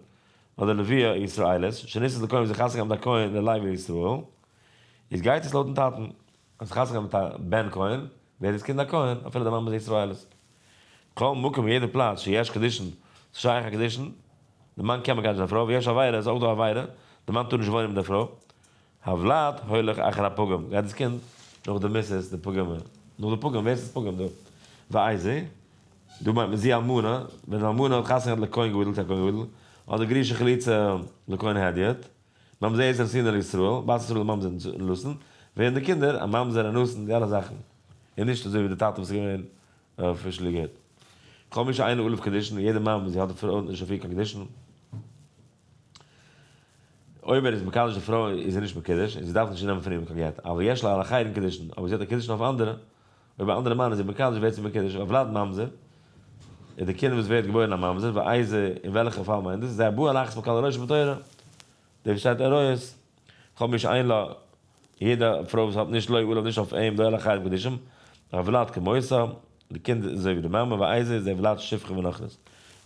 אדער לוויה ישראלית, שנישאת לכהן וואס איז חתן געווארן מיט א כהן ללייב לישראל, איז גייט עס לויטן טאטן. האט זיך חתונה געהאט מיט א בן כהן, ווער איז קינד הכהן? אפילו די מאמע איז ישראלית. כל מקום יעדע פלאץ שיש קידושין שייך א קידושין, די מאן קען מקדש די פרוי, ויש עבירה איז אויך דא עבירה, די מאן טאר נישט וואוינען מיט די פרוי, הוולד הולך אחר הפוגם, גייט דאס קינד נאך די מיסיס די פוגם, נאך די פוגם, ווער עס איז פוגם דא? ואיזה, דא מיינט מען זי אלמנה, ווען די אלמנה האט חתונה געהאט לכהן גדול תהיה כהן גדול, אדער גרושה חליצה לכהן הדיוט. ממזר איז אסור על ישראל, בת ישראל איז ממזר אנוסן, ווערן די קינדער א ממזר אנוסן די אלע זאכן, און נישט אזוי ווי די טאטע וואס איז געווען אפישליגער כל מי שאינו אלף קדישין, און יעדע מאמע וואס זי האט די פרוי נישט אפי' קיין קדישין, אויב ער איז מקדש די פרוי איז זי נישט מקודש און זי דארף נישט נעמען פון אים קיין גט, אבל יש לה על אחרים קדישין, אבער זי האט א קדישין אויף אנדערע. אויב א אנדערע מאן איז אומבאקאנט ווערט זי מקודשת פאר וולד ממזר, איז די קינד וואס ווערט געבוירן א ממזר, ואיזה אין וועלכע פאל מיינט דאס, זה הבא על אחת מקל הראשון בתורה, דער וואס שטייט עריות, כל מי שאין לה, יעדע פרוי וואס האט נישט לא עליו נישט אויף אים דאי לחייו קדישים, הוולד כמותו, די קינד איז אזוי ווי די מאמע, ואיזה איז דער וולד שפחה ונוכרית.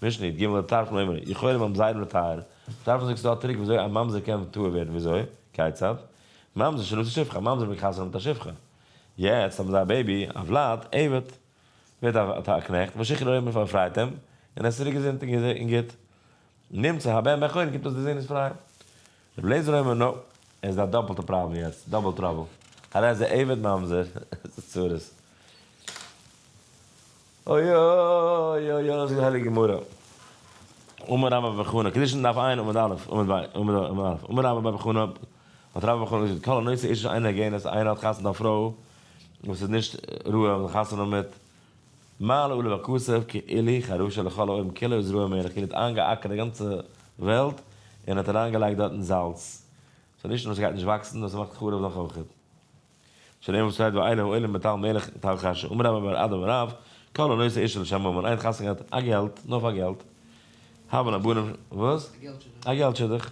משנית, ג לטרפן אומר, יכולים ממזרים לטהר, טרפן זאגט ס'איז דא א טריק וויאזוי א ממזר קען טהור ווערן וויאזוי? כיצד? ממזר שנושא שפחה, א ממזר מקחסן מיט א שפחה. יעצט האבן זיי א בעיבי, א וולד, עבד, ווערט א קנעכט, משיחי לאויר מען פארפרייט אים, און ער איז צוריק געזונט און גוט, נמצא הבן בן חורין קומט אויס דער זון איז פריי. רבי אליעזר אומר נא, ער איז אין א דאפלטע פראבלעם יעצט, דאבל טראבל, הרי אז דער עבד ממזר, איז עס צרות. אוי אוי אוי אוי זאגט די הייליגע גמרא, אמר רבא בר חנא, קידושין דף עיין עמוד א', עמוד ב', עמוד א', עמוד א', אמר רבא בר חנא, האט רבא בר חנא געזאגט, כל הנושא אישה אין הגענה, אז איינער האט חתונה א פרוי וואס איז נישט ראוי האבן א חתונה מיט, מעלה עולה בכסף כאילו היא חרושה לכל העולם כאילו איז רועה מלך כאילו האט איינגעאקערט די גאנצע וועלט און האט אריינגעלייגט דארטן זאלץ, ס'נישט נאר ס'גייט נישט וואקסן נאר ס'מאכט חרוב נאך אויכעט. שנאמר וואס שטייט ואין הוא אלא מתל מלך תל חשה אמר רבא בר אדם רב כל הנושא אישה לשם ממון איין חתן געהאט א געלט נאר פאר געלט האבען א בנין וואס? א געלט שידוך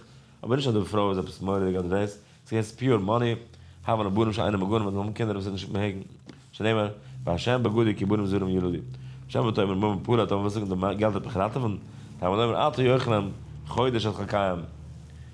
אבער נישט אז די פרוי איז עפעס מוראדיג אדער דאס ס'איז געווען ס'איז פיור מאני האבען א בנין שאינם מגונים אדער האבען קינדער וואס איז נישט מעגן שנאמר והשם בגדי כי בנים זרים ילדי שם ותאמר ממון פרט אבער וואס זאגען די געלט האט מיך ראטעווען תלמוד אומר אל תאכל חודש את חלקיים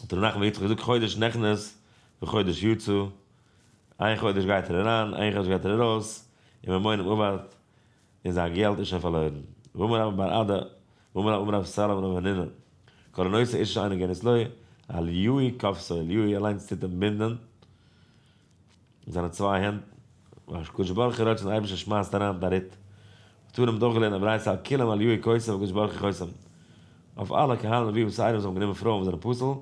האט ר' נחמן יצחק געזאגט חודש נכנס וחודש יצא, איין חודש גייט ער אריין איין חודש גייט ער ארויס, און ממונם אבד, און זיין געלט איז שוין פארלוירן. ואמר רבא בר אדא, ואמר רבא רב סאל אמר רב הנינא, כל הנושא אישה אינו גענית לו, אל יהי' כפסו אל יהי' אליינס טוט אים בינדען, מיט זיינע צוויי הענט והקדוש ברוך הוא ראטשעט און אייבערשטער שמייסט אריין די ריט האט אן אים דורכגעלערנט א ברייתא על כולם אל יהיו כוסים והקדוש ברוך הוא חוסם אויף אלע קהל נביא וסיידא וואס האבן גענומען פרויען וואס זענען פסול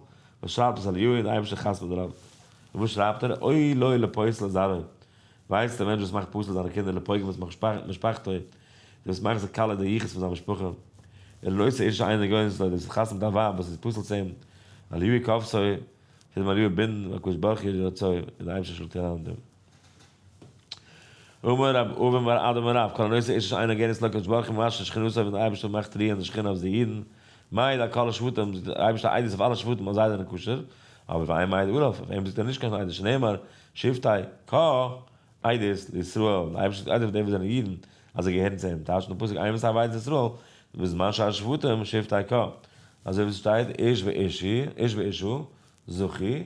וואס שרייבט עס אל יהיו און די אייבערשטער חתמ'ט דערויף און וואס שרייבט ער אוי לוי לפוסל את זרעו ווייסט די מענטש וואס מאכט פסול זיינע קינדער לפוגם את משפחתו און וואס מאכט זיי כלה די יחוס פון זיין משפחה און לוי את אשתו עיין די גוי'ן זאגט לוי דאס וואס חתמ'ט א ווייב וואס איז פסול צו אים אל יהיו כבשו. כדי מיר געבינדן בקדוש ברוך הוא יהי רצון און די אייבערשטער זאל טון אלע דעם. אמר ר' אהרן בר אדם הרב כל הנושא איש איש עינו גענעצט לקדוש ברוך הוא ממש לשכינותו ווען די אייבערשטער מאכט רוען די שכינה אויף די אידן מעיד על כל השבטים זאגט די אייבערשטער עדות אויף אלע שבטים אז זיי זענען כשר אבער אויף איין מעיד עליו אויף אים זאגט ער נישט קיין עדות שנאמר שבטי ק עדות לישראל די אייבערשטער זאגט עדות אויף די וואס זענען אידן אז זיי געהערן צו אים, טייטשט דער פסוק עיין בספר וועדת ישראל, בזמן שהשבטים שבטי ק, אזוי ווי עס שטייט איש ואשי, איש ואשו, זכי,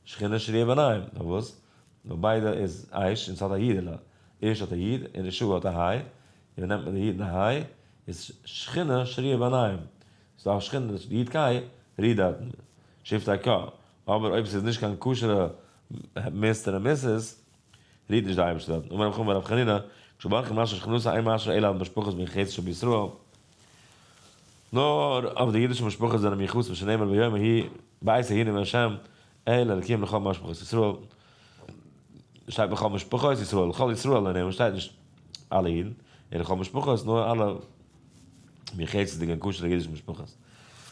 שכינה שריה ביניהם, נאר וואס? נאר ביידע איז איש און עס האט א אידעלע, איש האט א איד און אשו האט א היי, און ווען נעמט מען די איד און די היי, איז שכינה שריה ביניהם, ס'איז דאך שכינה נישט די אידקייט רוהט דארטן, שבטי ק, אבער אויב ס'איז נישט קיין כשר'ע מיסטער און מיסעס, רירט נישט די אייבערשטער דארטן און ברוך הוא מרב חנינא כשברוך משא שכנותא אין משא אלא אויף משפחות מן חצר שבישראל נאר אויף די אידישע משפחות זענען מיחוס ווי שנאמר ויאמר הי' בית ה' נאמר ה' אל אלקים לכל משפחות ישראל שטייט לכל משפחות ישראל לכל ישראל און ער שטייט נישט אלע אידן און לכל משפחות נאר אלע מן חצר'דיגע און כשר'דיגע אידישע משפחות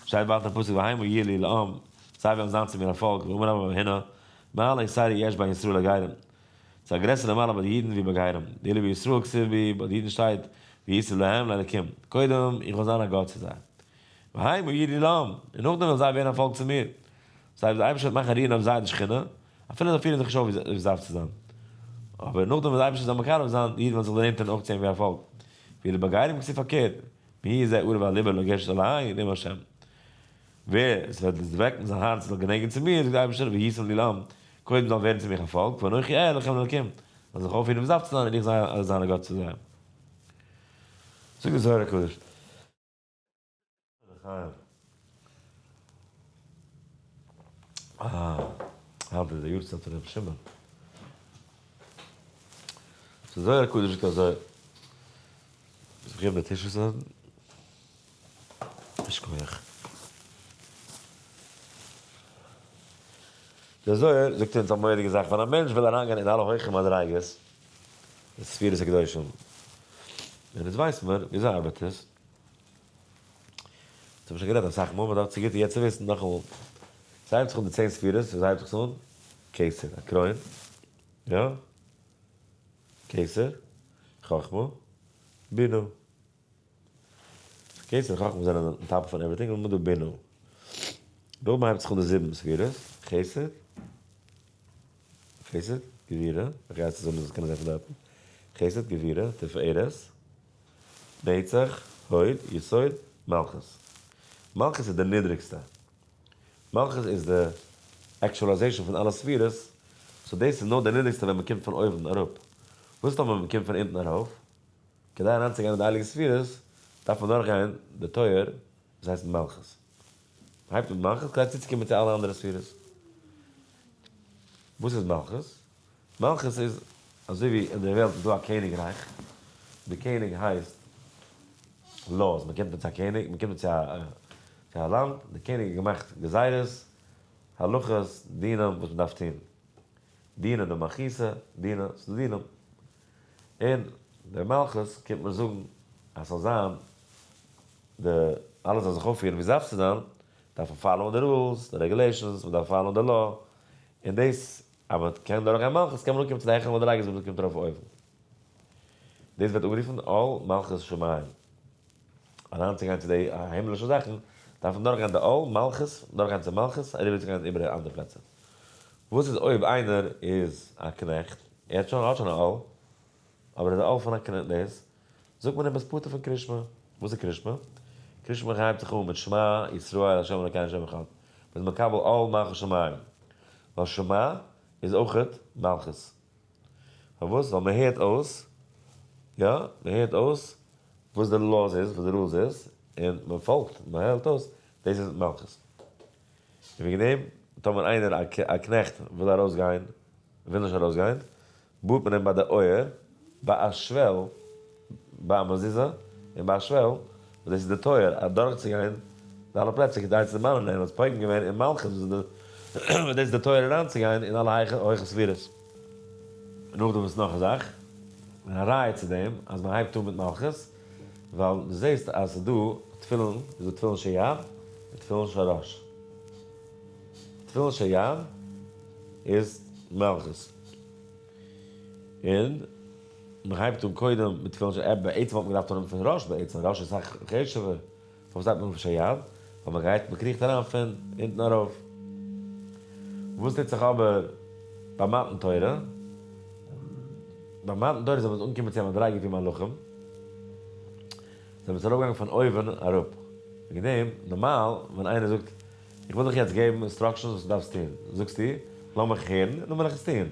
שטייט ווייטער אין פסוק והיימו יהיו לי לעם זיי וועלן זיין צו מיר א פאלק ואומר אברהם הנה מעלי סיירי יש בין ישראל הגרים, ס'איז א גרעסערע מעלה ביי די אידן ווי ביי גרים, ואילו בישראל כסיל בי, ביי די אידן שטייט, וישראל להם, לאלקים, קודם, איך וועל זיין א גאט צו זיי, והי' מאיר לי לעם, און נאכדעם וועלן זיי ווערן א פאלק צו מיר. דאס הייסט, דער אייבערשטער וועט מאכן רוען אויף זיי די שכינה, אפילו זיי פירן זיך נישט אויף ווי ס'דארף צו זיין, אבער נאכדעם וועט דער אייבערשטער זיי מקרב זיין, די אידן וועלן זיך דערנענטערן אויך צו אים ווי א פאלק, ואילו ביי גרים כסיל פארקערט, מהי' זה אור ואליבא לגשת אלי, לעם השם. ווער עס וועט דערוועקן זיין הארץ זאל גענעגן צו מיר, זאגט דער אייבערשטער, והייתם לי לעם, קודם זאלן ווערן צו מיך א פאלק, ואנכי אהיה לכם אלקים, זאלן זיך אויפהערן וואס דארף צו זיין און איך זאל זיין א גאט צו זיי. זאגט דער זוהר הקדוש. היינט איז די יארצייט פון רבי שמעון. דער זוהר הקדוש זאגט אזוי, ס'איז ח ו בתשרי ז ל, יישר כח. דער זוהר זאגט אונז א מורא'דיגע זאך, ווען א מענטש וויל אריינגיין אין אלע הויכע מדריגות אין ספירות הקדושים, און אונז ווייס מיר ווי אזוי ארבעט עס, דאס האב איך שוין גערעדט אסאך מאל, מען דארף צוגיטע יעצט וויסן נאכאמאל, ס'הייבט זיך אן די צען ספירות, ווי אזוי הייבט זיך עס אן? כסר, א קרוין, יא? כסר, חכמה, בינה, כ'קען ס'איז חכמים זענען און טאפ פון עווריטינג און מדא בינו. דא מ'הייבט זיך אן די זיבן ספירות, חסד, חסד, גבירה, איך גיי עס צוזאם מ'זאל עס קענען זען פון דארטן, חסד, גבירה, תפארת, נצח, הוד, יסוד, מלכות. מלכות איז די נידריגסטע. מלכות איז די עקטשולייזעישאן פון אלע ספירות, סאו דאס איז נאר די נידריגסטע ווען מ'קומט פון אויבן אראפ. וואס איז טאמער מ'קומט פון אונטן ארויף? כדי אריינצוגיין אין די הייליגע ספירות דארף מען דורכגיין די טויער וואס הייסט מלכות. מען הייבט אן מלכות כדי צוצוקומען צו אלע אנדערע ספירות. וואס איז מלכות? מלכות איז אזוי ווי אין די וועלט איז דא א קעניגרייך, די קעניג הייסט laws, מען קומט מיט א קעניג, מען קומט צו א לאנד, די קעניג האט געמאכט גזירות, הלכות, דינים וואס מען דארף טון, דיני דמכיסא, דיני, ס'איז דא דינים. און דער מלכות קומט מען זאגן אז ס'זאל זיין די אלעס זאל זיך אויפפירן ווי סדארף צו זיין, דארף מען פאלאוען די רולס, די רעגולעישאנס, מען דארף פאלאוען די לאו, און דאס אז מען קען דורך גיין מלכות קען מען אנקומען צו די העכערע מדריגות וואס מען קומט ארויף אויבן. דאס ווערט אנגערופן עול מלכות שמים. אריינצוגיין צו די הימלישע זאכן דארף מען דורכגיין די עול מלכות, דורכגיין צו מלכות אריבערצוגיין איבער איבער אנדערע פלעצער. וואס איז אויב איינער איז א קנעכט? ער האט שוין ער האט שוין א אהל, אבער איז א אהל פון א קנ ד, זאגט מען אים ביסט פטור פון קרישמע. וואס איז קרישמע? קרישמע הייבט זיך אן מיט שמע ישראל ה' אלוקינו השם אחד, מ'איז מקבל עול מלכות שמים, ווייל שמע איז אויכעט מלכות. פארוואס? ווייל מ'הערט אויס, יא, מ'הערט אויס וואס די לאוס איז, וואס די רולס איז, און מ'פאלגט, מ'הערט אויס, דאס איז מלכות. און וועגן דעם, טאמער איינער, א קנעכט, וויל ארויס גיין, וויל נישט ארויס גיין, בארט מען אים ביי די אויער, ביי א שוועל, ביי א מזוזה, און ביי א שוועל, וואס דאס איז די טויער, אדורך צו גיין די אלע פלעצער, כדי צו דערמאנען אים, אז פוגם געווען אין מלכות, וואס דאס איז די טויער אריין צו גיין אין אלע הויכע ספירות. און נאכדעם וואס נאך א זאך, און א ראיה צו דעם, אז מען הייבט אן מיט מלכות, ווייל דו זעסט אז ס'איז דא תפילין, איז דא תפילין של יד און תפילין של ראש. תפילין של יד איז מלכות. און מ'הייבט אן קודם מיט תפילין של יד, בעצם וואלט מען געדארפט אנהויבן פון ראש בעצם, ראש איז סאך חשוב'ער. פארוואס זייט מען לובש א יד ווען מען גייט? מען קריכט אריין פון אונטן ארויף. וואס טוט זיך אבער ביי מתן תורה? ביי מתן תורה זענען מיר אנגעקומען צו א מדריגה ווי מלאכים זענען עס ארויפגעגאנגען פון אויבן אראפ. וועגן דעם, נארמאל ווען איינער זאגט, איך וויל דיך יעצט געבן אינסטראקשענס וואס דו דארפסט טון, זאגסטו, לאמיך הערן און דאן וועל איך עס טון.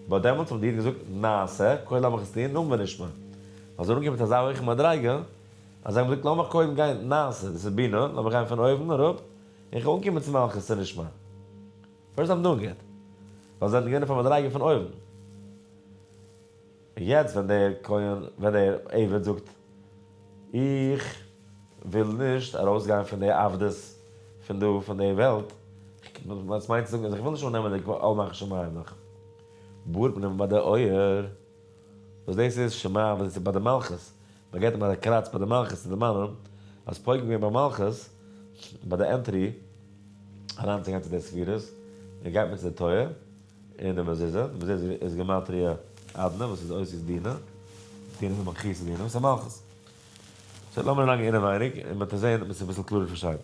באט דעמאלטס האט די איד געזאגט, נעשה, קודם לאמיך עס טון, דאן ונשמע. ווייל זיי זענען אנגעקומען צו אזא הויכע מדריגה. אז איך האב געזאגט לאמיך קודם גיין נעשה, דאס איז בינה, לאמיך גיין פון אויבן אראפ, און איך אנקומען צו מלכות צו לשמה. פירסט זיי האבן אנגעהערט, ווייל זיי זענען געווען אויף א מדריגה פון אויבן. און יעצט ווען דער כהן, ווען דער עבד זאגט, איך וויל נישט ארויסגיין פון די עבדות פון דא, פון די וועלט, וואס מיינט צו זאגן אז איך וויל נישט אננעמען די עול מלכות שמים נאך, באר פנים ביי די אויער. וואס דאס איז שמה וואס דאס איז ביי די מלכות, מען געט אים אזא קראץ ביי די מלכות צו דערמאנען אז פויגן געווען ביי מלכות ביי די ענטרי אריינצוגיין צו די ספירות, און גייט מען צו די תורה און די מזוזה, די מזוזה איז גימטריא אדנע וואס איז אויסער דינא דינא איז מכחישא דינא וואס איז מלכות. סאו לאמיר אריינגיין אינעווייניג און מען וועט עס זען מען וועט עס אביסל קלארער פארשטיין.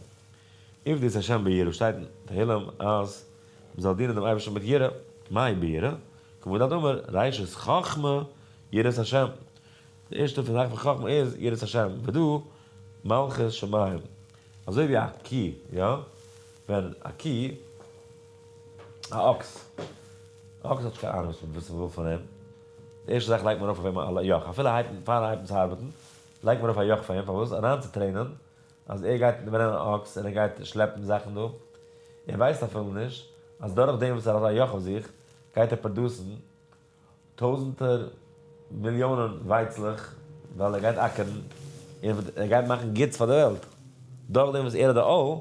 עבדות ה' ביראה שטייט אין תהלים אז. מען זאל דינען דעם אייבערשטן מיט יראה, מהי ביראה? כמעוד הדבר, ראשית חכמה יראת השם, די ערשטע פון זאכן פון חכמה איז יראת השם, ודו מלכות שמים, אזוי ווי א קי, יא, ווען א קי, א אקס, א אקס האט נישט קיין אהנונג וואס מען וויל פון אים, די ערשטע זאך לייגט מען ארויף אויף אים א יאך, אפילו פארן הייבן צו ארבעטן, לייגט מען ארויף א יאך אויף אים, פארוואס? אריינצוטרעינען אז ער גייט ברענען אן אקס און ער גייט שלעפן זאכן דא, ער ווייסט אפילו נישט אז דורך דעם וואס ער האט א יאך אויף זיך גייט ער פראדוסן טויזענטער מיליאנען ווייצלעך ווייל ער גייט אקערן און ער גייט מאכן גוטס פאר די וועלט, דורך דעם וואס ער האט די אויל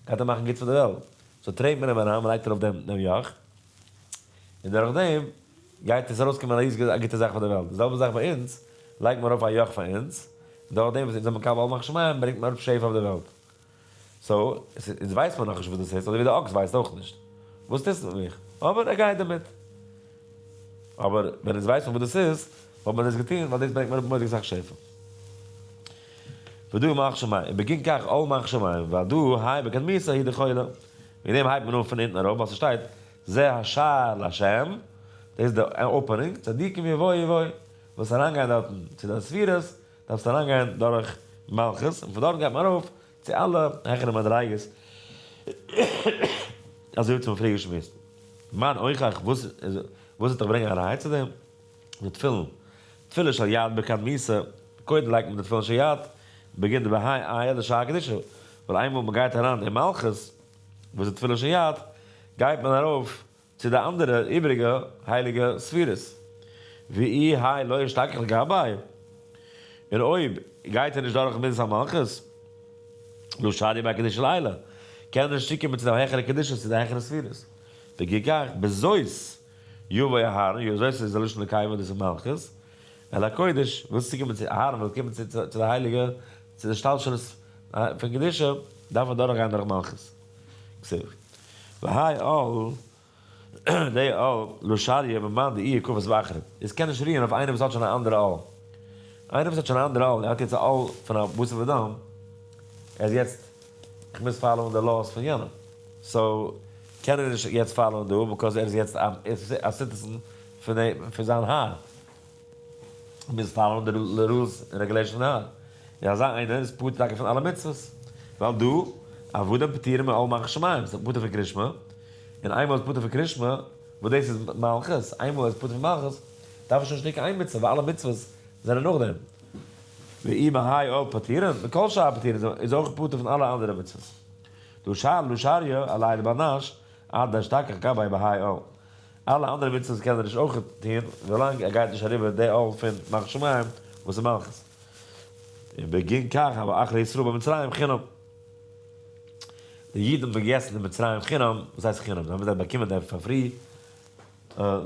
גייט ער מאכן גוטס פאר די וועלט, סאו טרעט מען אים אריין, מען לייגט ארויף דעם יאך. און דורך דעם גייט עס ארויסקומען א ריזיגע א גוטע זאך פאר די וועלט, די זעלבע זאך ביי אונז, לייגט מען ארויף א יאך פאר אונז, און דורך דעם וואס אונז זענען מקבל אל מחשמיים ברענגט מען אראפ שפע אויף די וועלט. סאו, אונז ווייסט מען נאכנישט וואס דאס הייסט, אזוי ווי דער אקס ווייסט אויך נישט וואס טוט מיט מיך, אבער ער גייט דערמיט. אבער ווען אונז ווייסט מען וואס דאס איז, וואלט מען דאס געטון, ווייל דאס ברענגט מען אראפ מוראדיג אסאך שפע. ודו מחשמיים, ובגין כך אל מחשמיים, ודו האי בקדמותא הי' דכולא. מיט דעם הייבט מען אן פון אונטן ארויף ווייל ס'שטייט זה השער לה', דאס איז די אפענונג, צדיקים יבואו יבואו, ווילסט אריינגיין דארטן צו די ספירות, דארפסטו אריינגיין דורך מלכות, און פון דארט גייט מען ארויף צו אלע העכערע מדריגות, אזוי ווי צו מפריש מוסטער. מה נוכח, וואס וואס וועט דיך ברענגען אריין צו דעם? די תפילין, תפילין של יד ברכת מיסה, קודם לייגט מען די תפילין של יד, מ'בעגינט די בהאי עיה די שעה קדישא, ווייל איינמאל מ'גייט אריין אין מלכות, וואס איז תפילין של יד, גייט מען ארויף צו די אנדערע איבעריגע הייליגע ספירות, ואי האי לא ישתכח לגבאי, און אויב גייט ער נישט דורך מנז המלכות, לא שדי ביי קדישא לעילא, קען ער נישט צוקומען צו די העכערע קדישות, צו די העכערע ספירות, וכי כך, בזאת. יבא אהרן, יו זאת איז די לשון נקיימא דאס איז מלכות, אל הקודש, וואס צו קומען צו, אהרן וויל קומען צו צו די הייליגע, צו די השתלשלות פון קדושה, דארף ער דורכגיין דורך מלכות. כסדר. והאי אל, די אל, לא שריה במאן דאיהא כפות באחרים. עס קען נישט רוען אויף איינער וואס האט שוין א אנדערע אל. איינער וואס האט שוין א אנדערע אל, ער האט יעצט א אל פון א בשר ודם, ער איז יעצט, איך מוז פאלאוען די לאוס פון יענעם. סאו. קען ער נישט יעצט פיילען דא ביקאוז ער איז יעצט א סיטיזען פון זיין האר, ער מוז פיילען די רולס און רעגולעישאנס פון האר, און אזא איינער איז פטור טאקע פון אלע מצוות, ווייל דא עבדים פטורים מעל מלכות שמים, זיי זענען פטור פון קרישמע, און איינמאל ער איז פטור פון קרישמע, וואס דאס איז מלכות, איינמאל ער איז פטור פון מלכות, דארף ער שוין נישט טון קיין איין מצוה, ווייל אלע מצוות זענען נאכדעם. ואי מהאי עול פטורין, וכל שאר הפטורים איז אויך פטור פון אלע אנדערע מצוות. דו שר דו שר יא, אליי די באנאש אט דער שטארקע כבאי בהאי עול. אלע אנדערע מצוות קען ער נישט אויכעט טוהן ווילאנג ער גייט נישט אריבער די עול פון מח שמים וואס איז מלכות. און בגין כך האבו אחרי ישראל במצרים חינם. די אידן האבן געגעסן אין מצרים חינם, וואס הייסט חינם? זיי האבן ווידער באקומען דער פאר פרי,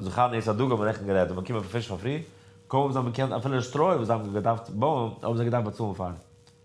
זכר נס הדגה האט מען רעכטן גערעדט, זיי האבן באקומען פיש פאר פרי, קוים האבן זיי באקומען אפילו שטרוי וואס זיי האבן געדארפט בויען האבן זיי געדארפט באצאלן פאר.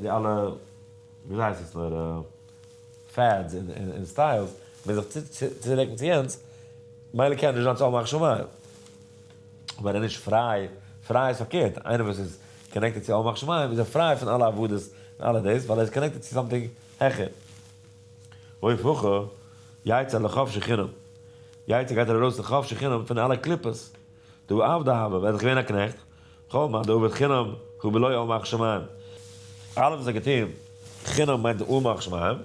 די אלע ווי אזוי הייסט עס נאר פעדס און סטיילס ווען זיך צוריקן צו יענץ מילא קען ער נישט זיין צו האבן הכשר מים אבער ער איז נישט פריי, פריי איז פארקערט איינער וואס איז קאנעקטעד צו האבן הכשר מים איז ער פריי פון אלע עבודות און אלע דאס ווייל ער איז קאנעקטעד צו סאמטינג העכער אויב הכה יצא לחפשי חינם יצא גייט ער ארויס לחפשי חינם פון אלע קליפות. דו עבד ה' ווער איז געווען א קנעכט? כל מה דעובד חינם הוא בלא יאמר שמים. אלעס וואס ער האט געטון חינם מיינט די אמר שמים.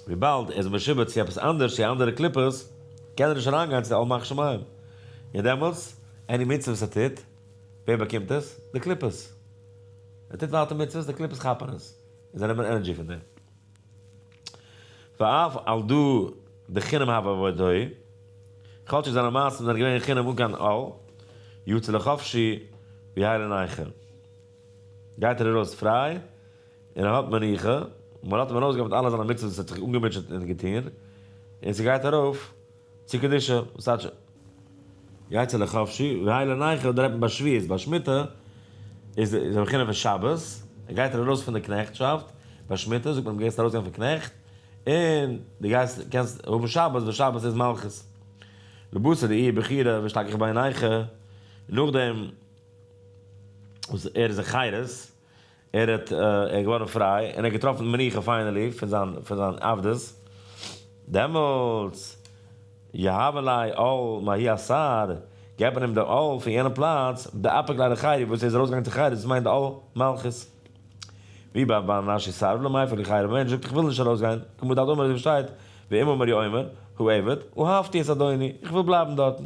וויבאלד ער איז משועבד צו עפעס אנדערש צו אנדערע קליפות קען ער נישט אריינגיין צו די אמר שמים. און דעמאלטס עני מצוה וואס ער טוט, ווער באקומט עס? די קליפות. ער טוט ווייטער מצוות, די קליפות כאפן עס און זיי נעמען ענערדזשי פון דעם. ואף על דא דחינם הוה ועוד הוי, כל שכן זיינע מעשים זענען געווען אין חינם אן קיין עול, יצא לחופשי ויהא לנייחא, גייט ער ארויס פריי און ער האט מנוחה, און מען לאזט אים ארויסגיין מיט אלע זיינע מצוות וואס ער האט זיך אנגעמוטשעט און געטון, און ס'גייט ארויף. צו קדושה, וואס טייטש יצא לחפשי, והאי לנייחא אדער עפען ביי שביעית, ביי שמיטה איז איז א בחינה פון שבת, ער גייט ארויס פון די קנעכטשאפט, ביי שמיטה זאגט מען אז דו גייסט ארויס גיין פון קנעכט, און דו גייסט קענסט האבן שבת, ווייל שבת איז מלכות. לבסר דאי בחירה ווי שטארק איך בעיניך, און נאכדעם וואס ער איז אין חירות. ער האט ער געווארן פריי און ער האט געטראפן מנוחה פיינעלי פון זיין פון זיין עבדות, דעמאלטס יהב אלי עול מהאי אסר, געבט מען אים די עול פון יענע פלאץ, דאפיק לידי חירות וואס ער איז ארויסגעגאנגען צו חירות, דאס מיינט די עול מלכות, ווי ביי בן מנשה יסרב לו מאיפה לי חירות, ווען ער זאגט איך וויל נישט ארויסגיין, כמו דאדמור אזוי ווי שטייט, ואם אומר יאמר, הוא עבד, אהבתי את אדוני, איך וויל בלייבן דארטן.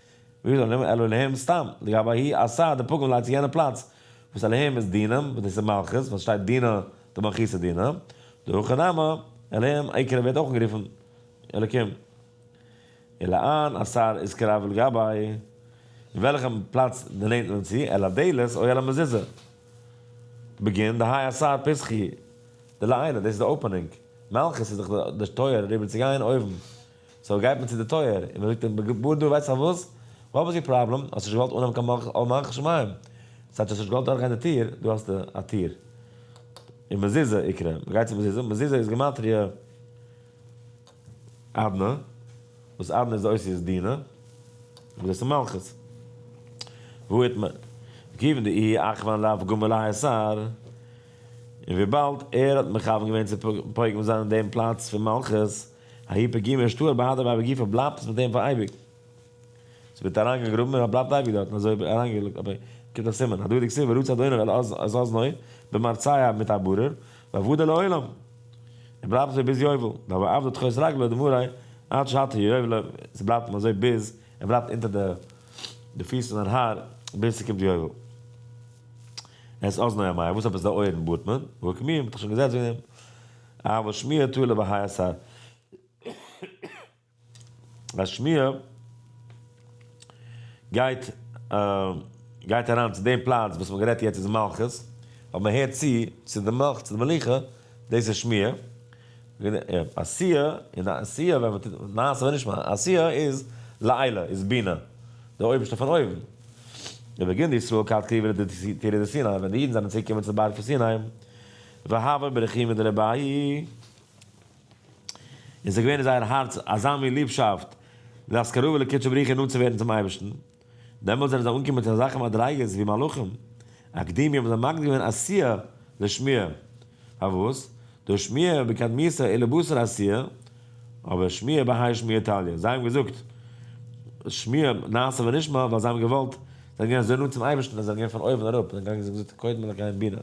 ווי איז עליהם אלא עליהם סתם, לגבי ההיא עשה די פגום לייגט זיך יענע פלאץ וואס עליהם איז דינם וואס דאס איז מלכות ווייל סשטייט דינא דמלכותא דינא, דהכא נמי עליהם עיקרא ווערט אויך אנגערופן אלקים אלא אן עשר איז קרוב ולגבי אין וועלכע פלאץ דערנענט מען צו על הדלת או על המזוזה בגין דהאי עשר פסחי דלעילא דאס איז די אופענונג מלכות איז דאך די טויער אריבער צו גיין אויבן. סאו גייט מען צו די טויער און מען זאגט אים בור דו ווייסטעך וואס? וואט וואס יור פראבלעם? האסט נישט געוואלט אנהאבן קיין מלכות שמים סאו האסט נישט געוואלט דורכגיין די טיר, דא האסטו א טיר און מזוזה יקרה, מען גייט צו מזוזה, מזוזה איז גימטריא אדנע וואס אדנע איז די אותיות דינע וואס דאס איז מלכות והוא את מ גיוון די אי אכוון לאו גומר להיסר און וויבאלד ער האט מכוון געווען צו פוגם זיין אין דעם פלאץ פון מלכות היפא ג ווען שטוהל ביי האדעוועי בגופא בלייבט עס מיט אים פאר אייביג. עס ווערט אריינגעגראבן און ער בלייבט אייביג דארטן אזוי אריינגעלייגט אבער קומט א סימן הדדי כסיל ורצה אדוני על אז אזנו במרציה מיט א ברור ועבודה לעולם און בלייבט אזוי ביז יובל דאבה עבדא תכעס רגלא דמרי עד שהתה יובל עס בלייבט אים אזוי ביז ער בלייבט אונטער די פיס פון זיין האר ביז ס'קומט יובל. אז אזנו א מיה וואס עפעס די אויערן בארט מען? והוא כמיהן מ'האט דאך שוין געזעצט וועגן דעם. אה וואס שמיר טו לבהאי השר אז שמיר גייט גייט אריין צו דעם פלאץ וואס מען גערעדט יעצט איז מלכות אבער מען הערט צו צו די מלכות צו די מלוכה דאס איז שמיר עשיה און עשיה ווען מען טוט נעשה ונשמע עשיה איז לעילה איז בינה די אויבערשטע פון אויבן ובגין די ישראל כד כתיב די תירא דסיני ווען די אידן זענען צוגעקומען צו די בארג פון סיני. והווי ברכי מיט די רבי און ס'איז געווען אין זייער הארץ אזא מין ליבשאפט דאס קרבה לקודשא בריך הוא נאנט צו ווערן צום אייבערשטן, דעמאלט זענען זיי אנגעקומען צו אזעלכע מדריגות ווי מלאכים אקדימי האבן זיי מקדים געווען עשיה לשמיה, פארוואס? דאס שמיה בקדמיותו איז לבשר עשיה, אבער שמיה בהאי שמיה תליא, זיי האבן געזאגט שמיה נעשה ונשמע ווייל זיי האבן געוואלט, זיי זענען געווען אזוי נאנט צום אייבערשטן אז זיי זענען געווען פון אויבן אראפ, זיי זענען געגאנגען צו זאגן די קודמא לקיים בינה.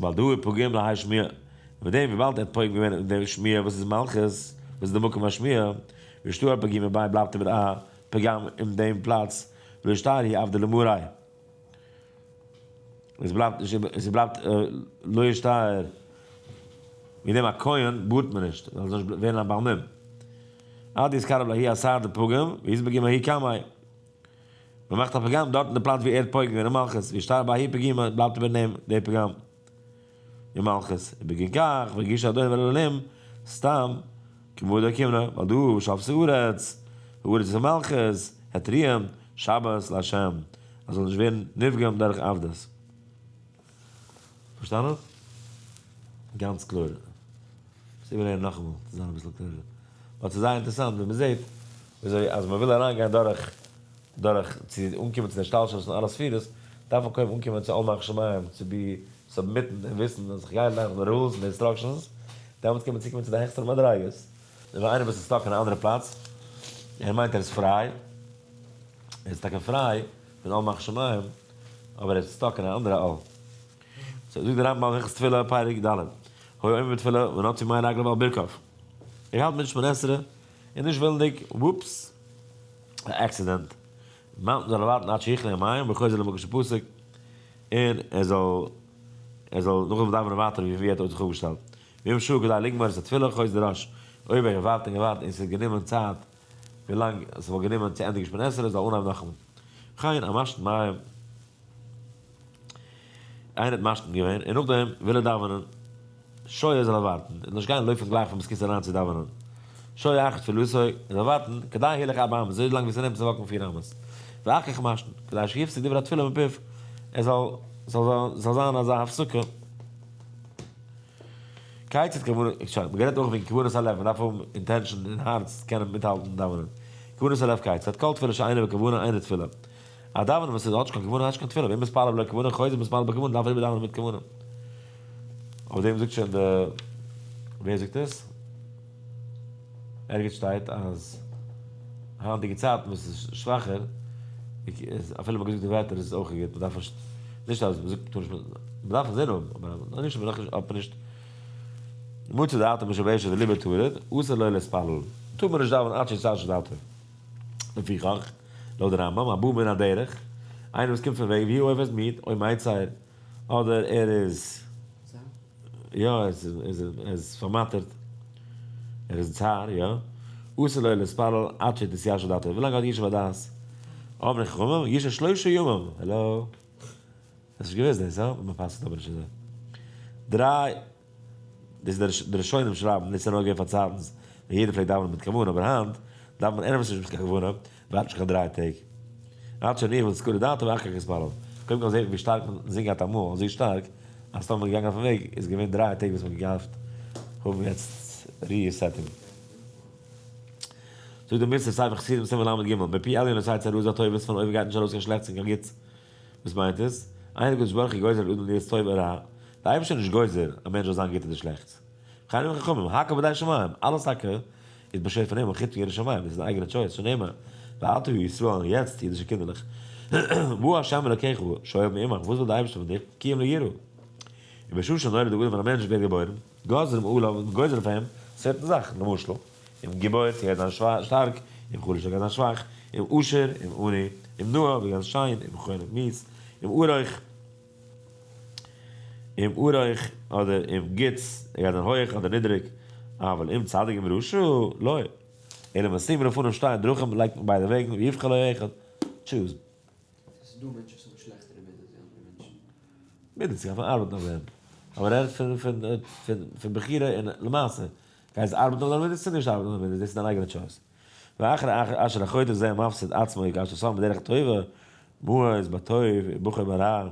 ווייל דא איז פוגעים להאי שמיעה, און מיט דעם וויבאלד ער האט פוגם געווען אין דער שמיעה וואס איז מלכות, וואס איז די מקום השמיעה, ושתו ע פ ג מ ב בלייבט איבער א פגם אין דעם פלאץ, והשתער היא אבדה למראי. עס בלייבט נישט איבער, עס בלייבט לא ישתער, מיט דעם א כהן בארט מען נישט, ווייל ער זאל נישט ווערן א בעל מום. עד איז קרוב להי' אסר די פגם, והיא איז בג ה הי' קמאי. מען מאכט א פראגראם דארט אין די פלאץ ווי ער האט פויגן געווען אין מלכות ווי שטארב א י פ ג בלייבט איבער נעם די פראגראם אין מלכות איבער ג כ והגיש אדון ולאלהים סתם כבודו כמ נ ווייל דא שאפס הארץ הארץ איז אין מלכות העטריען שבת לה' אז זאל נישט ווערן נפגם דורך עבדות. פארשטאנען? גאנץ קלאר. מוזט איבערהערן נאכאמאל צו זיין אביסל קלארער. באט ס'איז זייער אינטערעסאנט ווי מ'זעט וויאזוי אז מ'וויל אריינגיין דורך דורך צו אנקומען צו די השתלשלות פון אלע ספירות, דארף מען קודם אנקומען צו עומק שמים צו בי סאבמיטן און וויסן אז כ'גיי נאך די רולס און די אינסטראקשענס, דעמאלטס קען מען צוקומען צו די העכסטערע מדריגות. און איינער וואס איז סטאק אין א אנדערע פלאץ, ער מיינט ער איז פריי, ער איז טאקע פריי, פון אל מחשמיים, אבער ער איז סטאק אין א אנדערע אל. סאו זאגט דער רמב ם אין הלכות תפילה פרק ד, הוי עומד בתפילה ונוטי מי רגליו על ברכיו, ער האלט מיט שמונה עשרה, און נישט ווילנדיג, וואופס, א עקסידענט, מאונטען זאל ער ווארטן עד שיכלה המים וחוזר למקום שפסק, און ער זאל ער זאל נאכדעם דאווענען ווייטער ווי ער האט זיך אויפגעשטעלט, ואם שעה כדי לגמור את התפילה חוזר אש, אויב ער געווארט און געווארט און ס'איז גענומען צייט, ווי לאנג עס וואלט גענומען צו ענדיגן שמיני עשרה זאל אנהייבן נאכן גיין א משט מים, איינער האט משתין געווען און נאכדעם וויל ער דאווענען, שוי ער זאל אווארטן און נישט גיין לויפן גלייך פון מוסקיטס אריין צו דאווענען, שוי אחר תפילתו, ער זאל ווארטן, כדי הילך ארבע אמות, אזוי לאנג ווי ס'נעמט צו וואקן פיר אמות, ואחר כך משתין, כדי שיפסיק דברי התפילה מפיו, עס זאל זאל זיין אזא הפסקה. כעת איז כוונת כעת, מען רעדט אויך וועגן כוונת הלב, מען דארף האבן אינטענשאן אין הארץ צו קענען מיטהאלטן דאווענען, כוונת הלב כעת, ס'האט כל תפילה שאינה בכוונה אינה תפילה, א דאווענען וואס איז האטש קיין כוונה האטש קיין תפילה, ואם מתפלל בלא כוונה חוזר מתפלל בכוונה, דארף איבער דאווענען מיט כוונה. אויף דעם זאגט שוין די ווער זאגט עס? ערגעץ שטייט אז היינטיגע צייטן וואס איז שוואכער, איז אפילו מ'האט געזאגט די וועטער איז אויך גוט, מ'דארף נישט, נישט אז מ'זאגט מ'טאר נישט, מ'דארף אינזין האבן, אבער אז מ'טאר נישט איז מען דאך אויף נישט מצא דעתו משבשת ולא מתעורר, אסור לו להתפלל, טאר מען נישט דאווענען עד שישתעשע דעתו. לפיכך, לויט די רמב ם, הבא מן הדרך, איינער וואס קומט פון וועג, והי' עובד מיד, אויב מיידט זיי אדער ער איז. יא ער איז פארמאטערט, ער איז צר, יא. אסור לו להתפלל עד שתתיישר דעתו, ווילאנג ער האט ישוב הדעת. אבני חכמים, ישב שלשה ימים, העלא? האסט נישט געוואוסט דאס, הא? מען פסק'ט אבער נישט אזוי. דריי, דאס איז די ראשונים שרייבן, דאס איז נוגע פארצייטנס ווען יעדער פלעגט דאווענען מיט כוונה, אבער היינט דארף מען ענדערש נישט מיט קיין כוונה, ווארט שוין כמעט דריי טעג. ווארט שוין איך וועל סקולא דאתא ואחר כך אתפלל. קודם כל זעה איך ווי שטארק מען זינגט גייט אמאל, אזוי שטארק אז טאמער מען איז געגאנגען אויפן וועג איז געווען דריי טעג וואס מען האט געהאפט האבן יעצט ריסעטינג. זאגט דער מוסר ספר חסידים סימן לג, מפי עליון עשה צרות זיין טובות, פון אויבן גייט נישט ארויס קיין שלעכטס און קיין גוטס. וואס מיינט עס? איין הקדוש ברוך הוא גוזר על אדם להיות טוב או רע, דער אייבערשטער איז נישט גוזר א מענטש זאל זיין גוט אדער שלעכטס. חכמים חכמים, הקב ה די שמים, אלעס טאקע איז באשערט פון הימל חוץ ירא שמים, דאס איז א אייגענע טשויס פון הימל, ואל תהיו ישראל, און יעצט אידישע קינדערלעך, וואו ה' אלוקיך שואל מעמך, וואס וויל די אייבערשטער פון דיך, כי אם לא יראה. און בשעה שנולד דער אדם ווען א מענטש ווערט געבוירן, גוזרים עליו, מען גוזר אויף אים, צערטן זאכן, למשל, אום געבוירט, ווערט זיין שטארק, אום חלשה ווערט זיין שוואך, אום עושר, אום עני, אום נאה, ווערט זיין שיין, אום חולה, מיז, אום ארוך. אם הוא רייך אדער אם גוטס, ער גייט זיין הויעך אדער נידריג, אבל אם צדיק אם רשע, לא. אלא מסתירין לפניו שתיין דרכים, לייגט מיט ביידע וועגן, ויבחר לו אחד, טשוז. ס'איז דא מענטשן וואס האבן שלעכטערע מידות ווי אנדערע מענטשן. מידות, זיי דארפן ארבעטן אויף דעם. אבער ער רעדט פון פון פון בחירה און למעשה. גייסט ארבעטן אויף דיינע מידות צו נישט ארבעטן אויף דיינע מידות, דאס איז דיין אייגענע טשויס. ואחר אשר החוטא זה מפסיד עצמו יגש לסוף בדרך הטובה, מוה איז ביי טוב און בוחר ביי רע, ער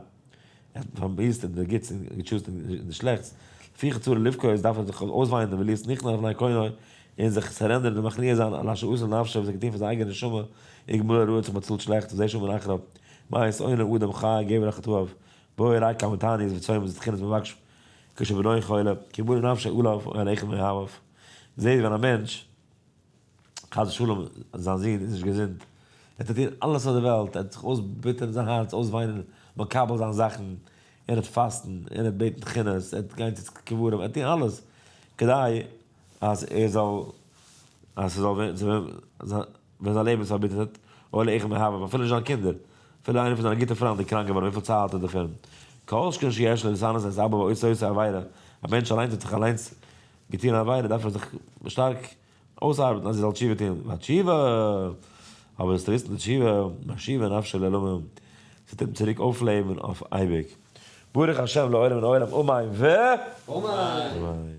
האט פארמיסט אין די גוטס און געטשוזט אין די שלעכטס, לפי חצורו לבכות איז דארף ער זיך אויסוויינען און וליעס ניחנא לפני קונו און זיך סערענדערן און מכניע זיין על אשר עשה לנפשו וואס ער האט געטון פאר זיין אייגענע נשמה, איגמול הרעות האט באצאלט שלעכטס וזה שמן אחריו, מה יעשה אוינע אדם חי גבר אחת אוהב, בואו ראה כמה תענית וצוים וזה תחינת מבקש כשבנו חולה, כי בונה נפשו עליו אוהל איכה מאהביו, זעהט ווען א מענטש. חס ושלום זיין זון איז נישט געזונט, ער טוט טון אלעס אויף די וועלט, ער וועט זיך אויסביטערן זיין הארץ, אויסוויינען, מקבל זיין זאכן, ער וועט פאסטן, ער וועט בעטן כינוס, ער וועט גיין צו קברים, ער וועט טון אלעס, כדי אז ער זאל, אז ס'זאל ווערן צו וועם, ווען זיין לעבן איז פארביטערט, אוי לאיכה מהווה, אפילו נישט זיין קינדער, אפילו איינער פון זיינע גוטע פריינד איז קראנק געווארן, וויפיל צער האט ער דערפון, כל שכן שיש לו לשנא את אביו עושה עושה עבירה, א מענטש אליינס וועט זיך אליינס געטון א עבירה דארף ער זיך שטארק אויסארבעטן אז ער זאל תשובה טון, והתשובה, אבער דאס טריסטן די תשובה, משיבה נפשו לעלמים, ס'טוט אים צוריק אויפלעבן אויף אייביג, ברוך השם לעולם מן העולם אמן ו. אמן.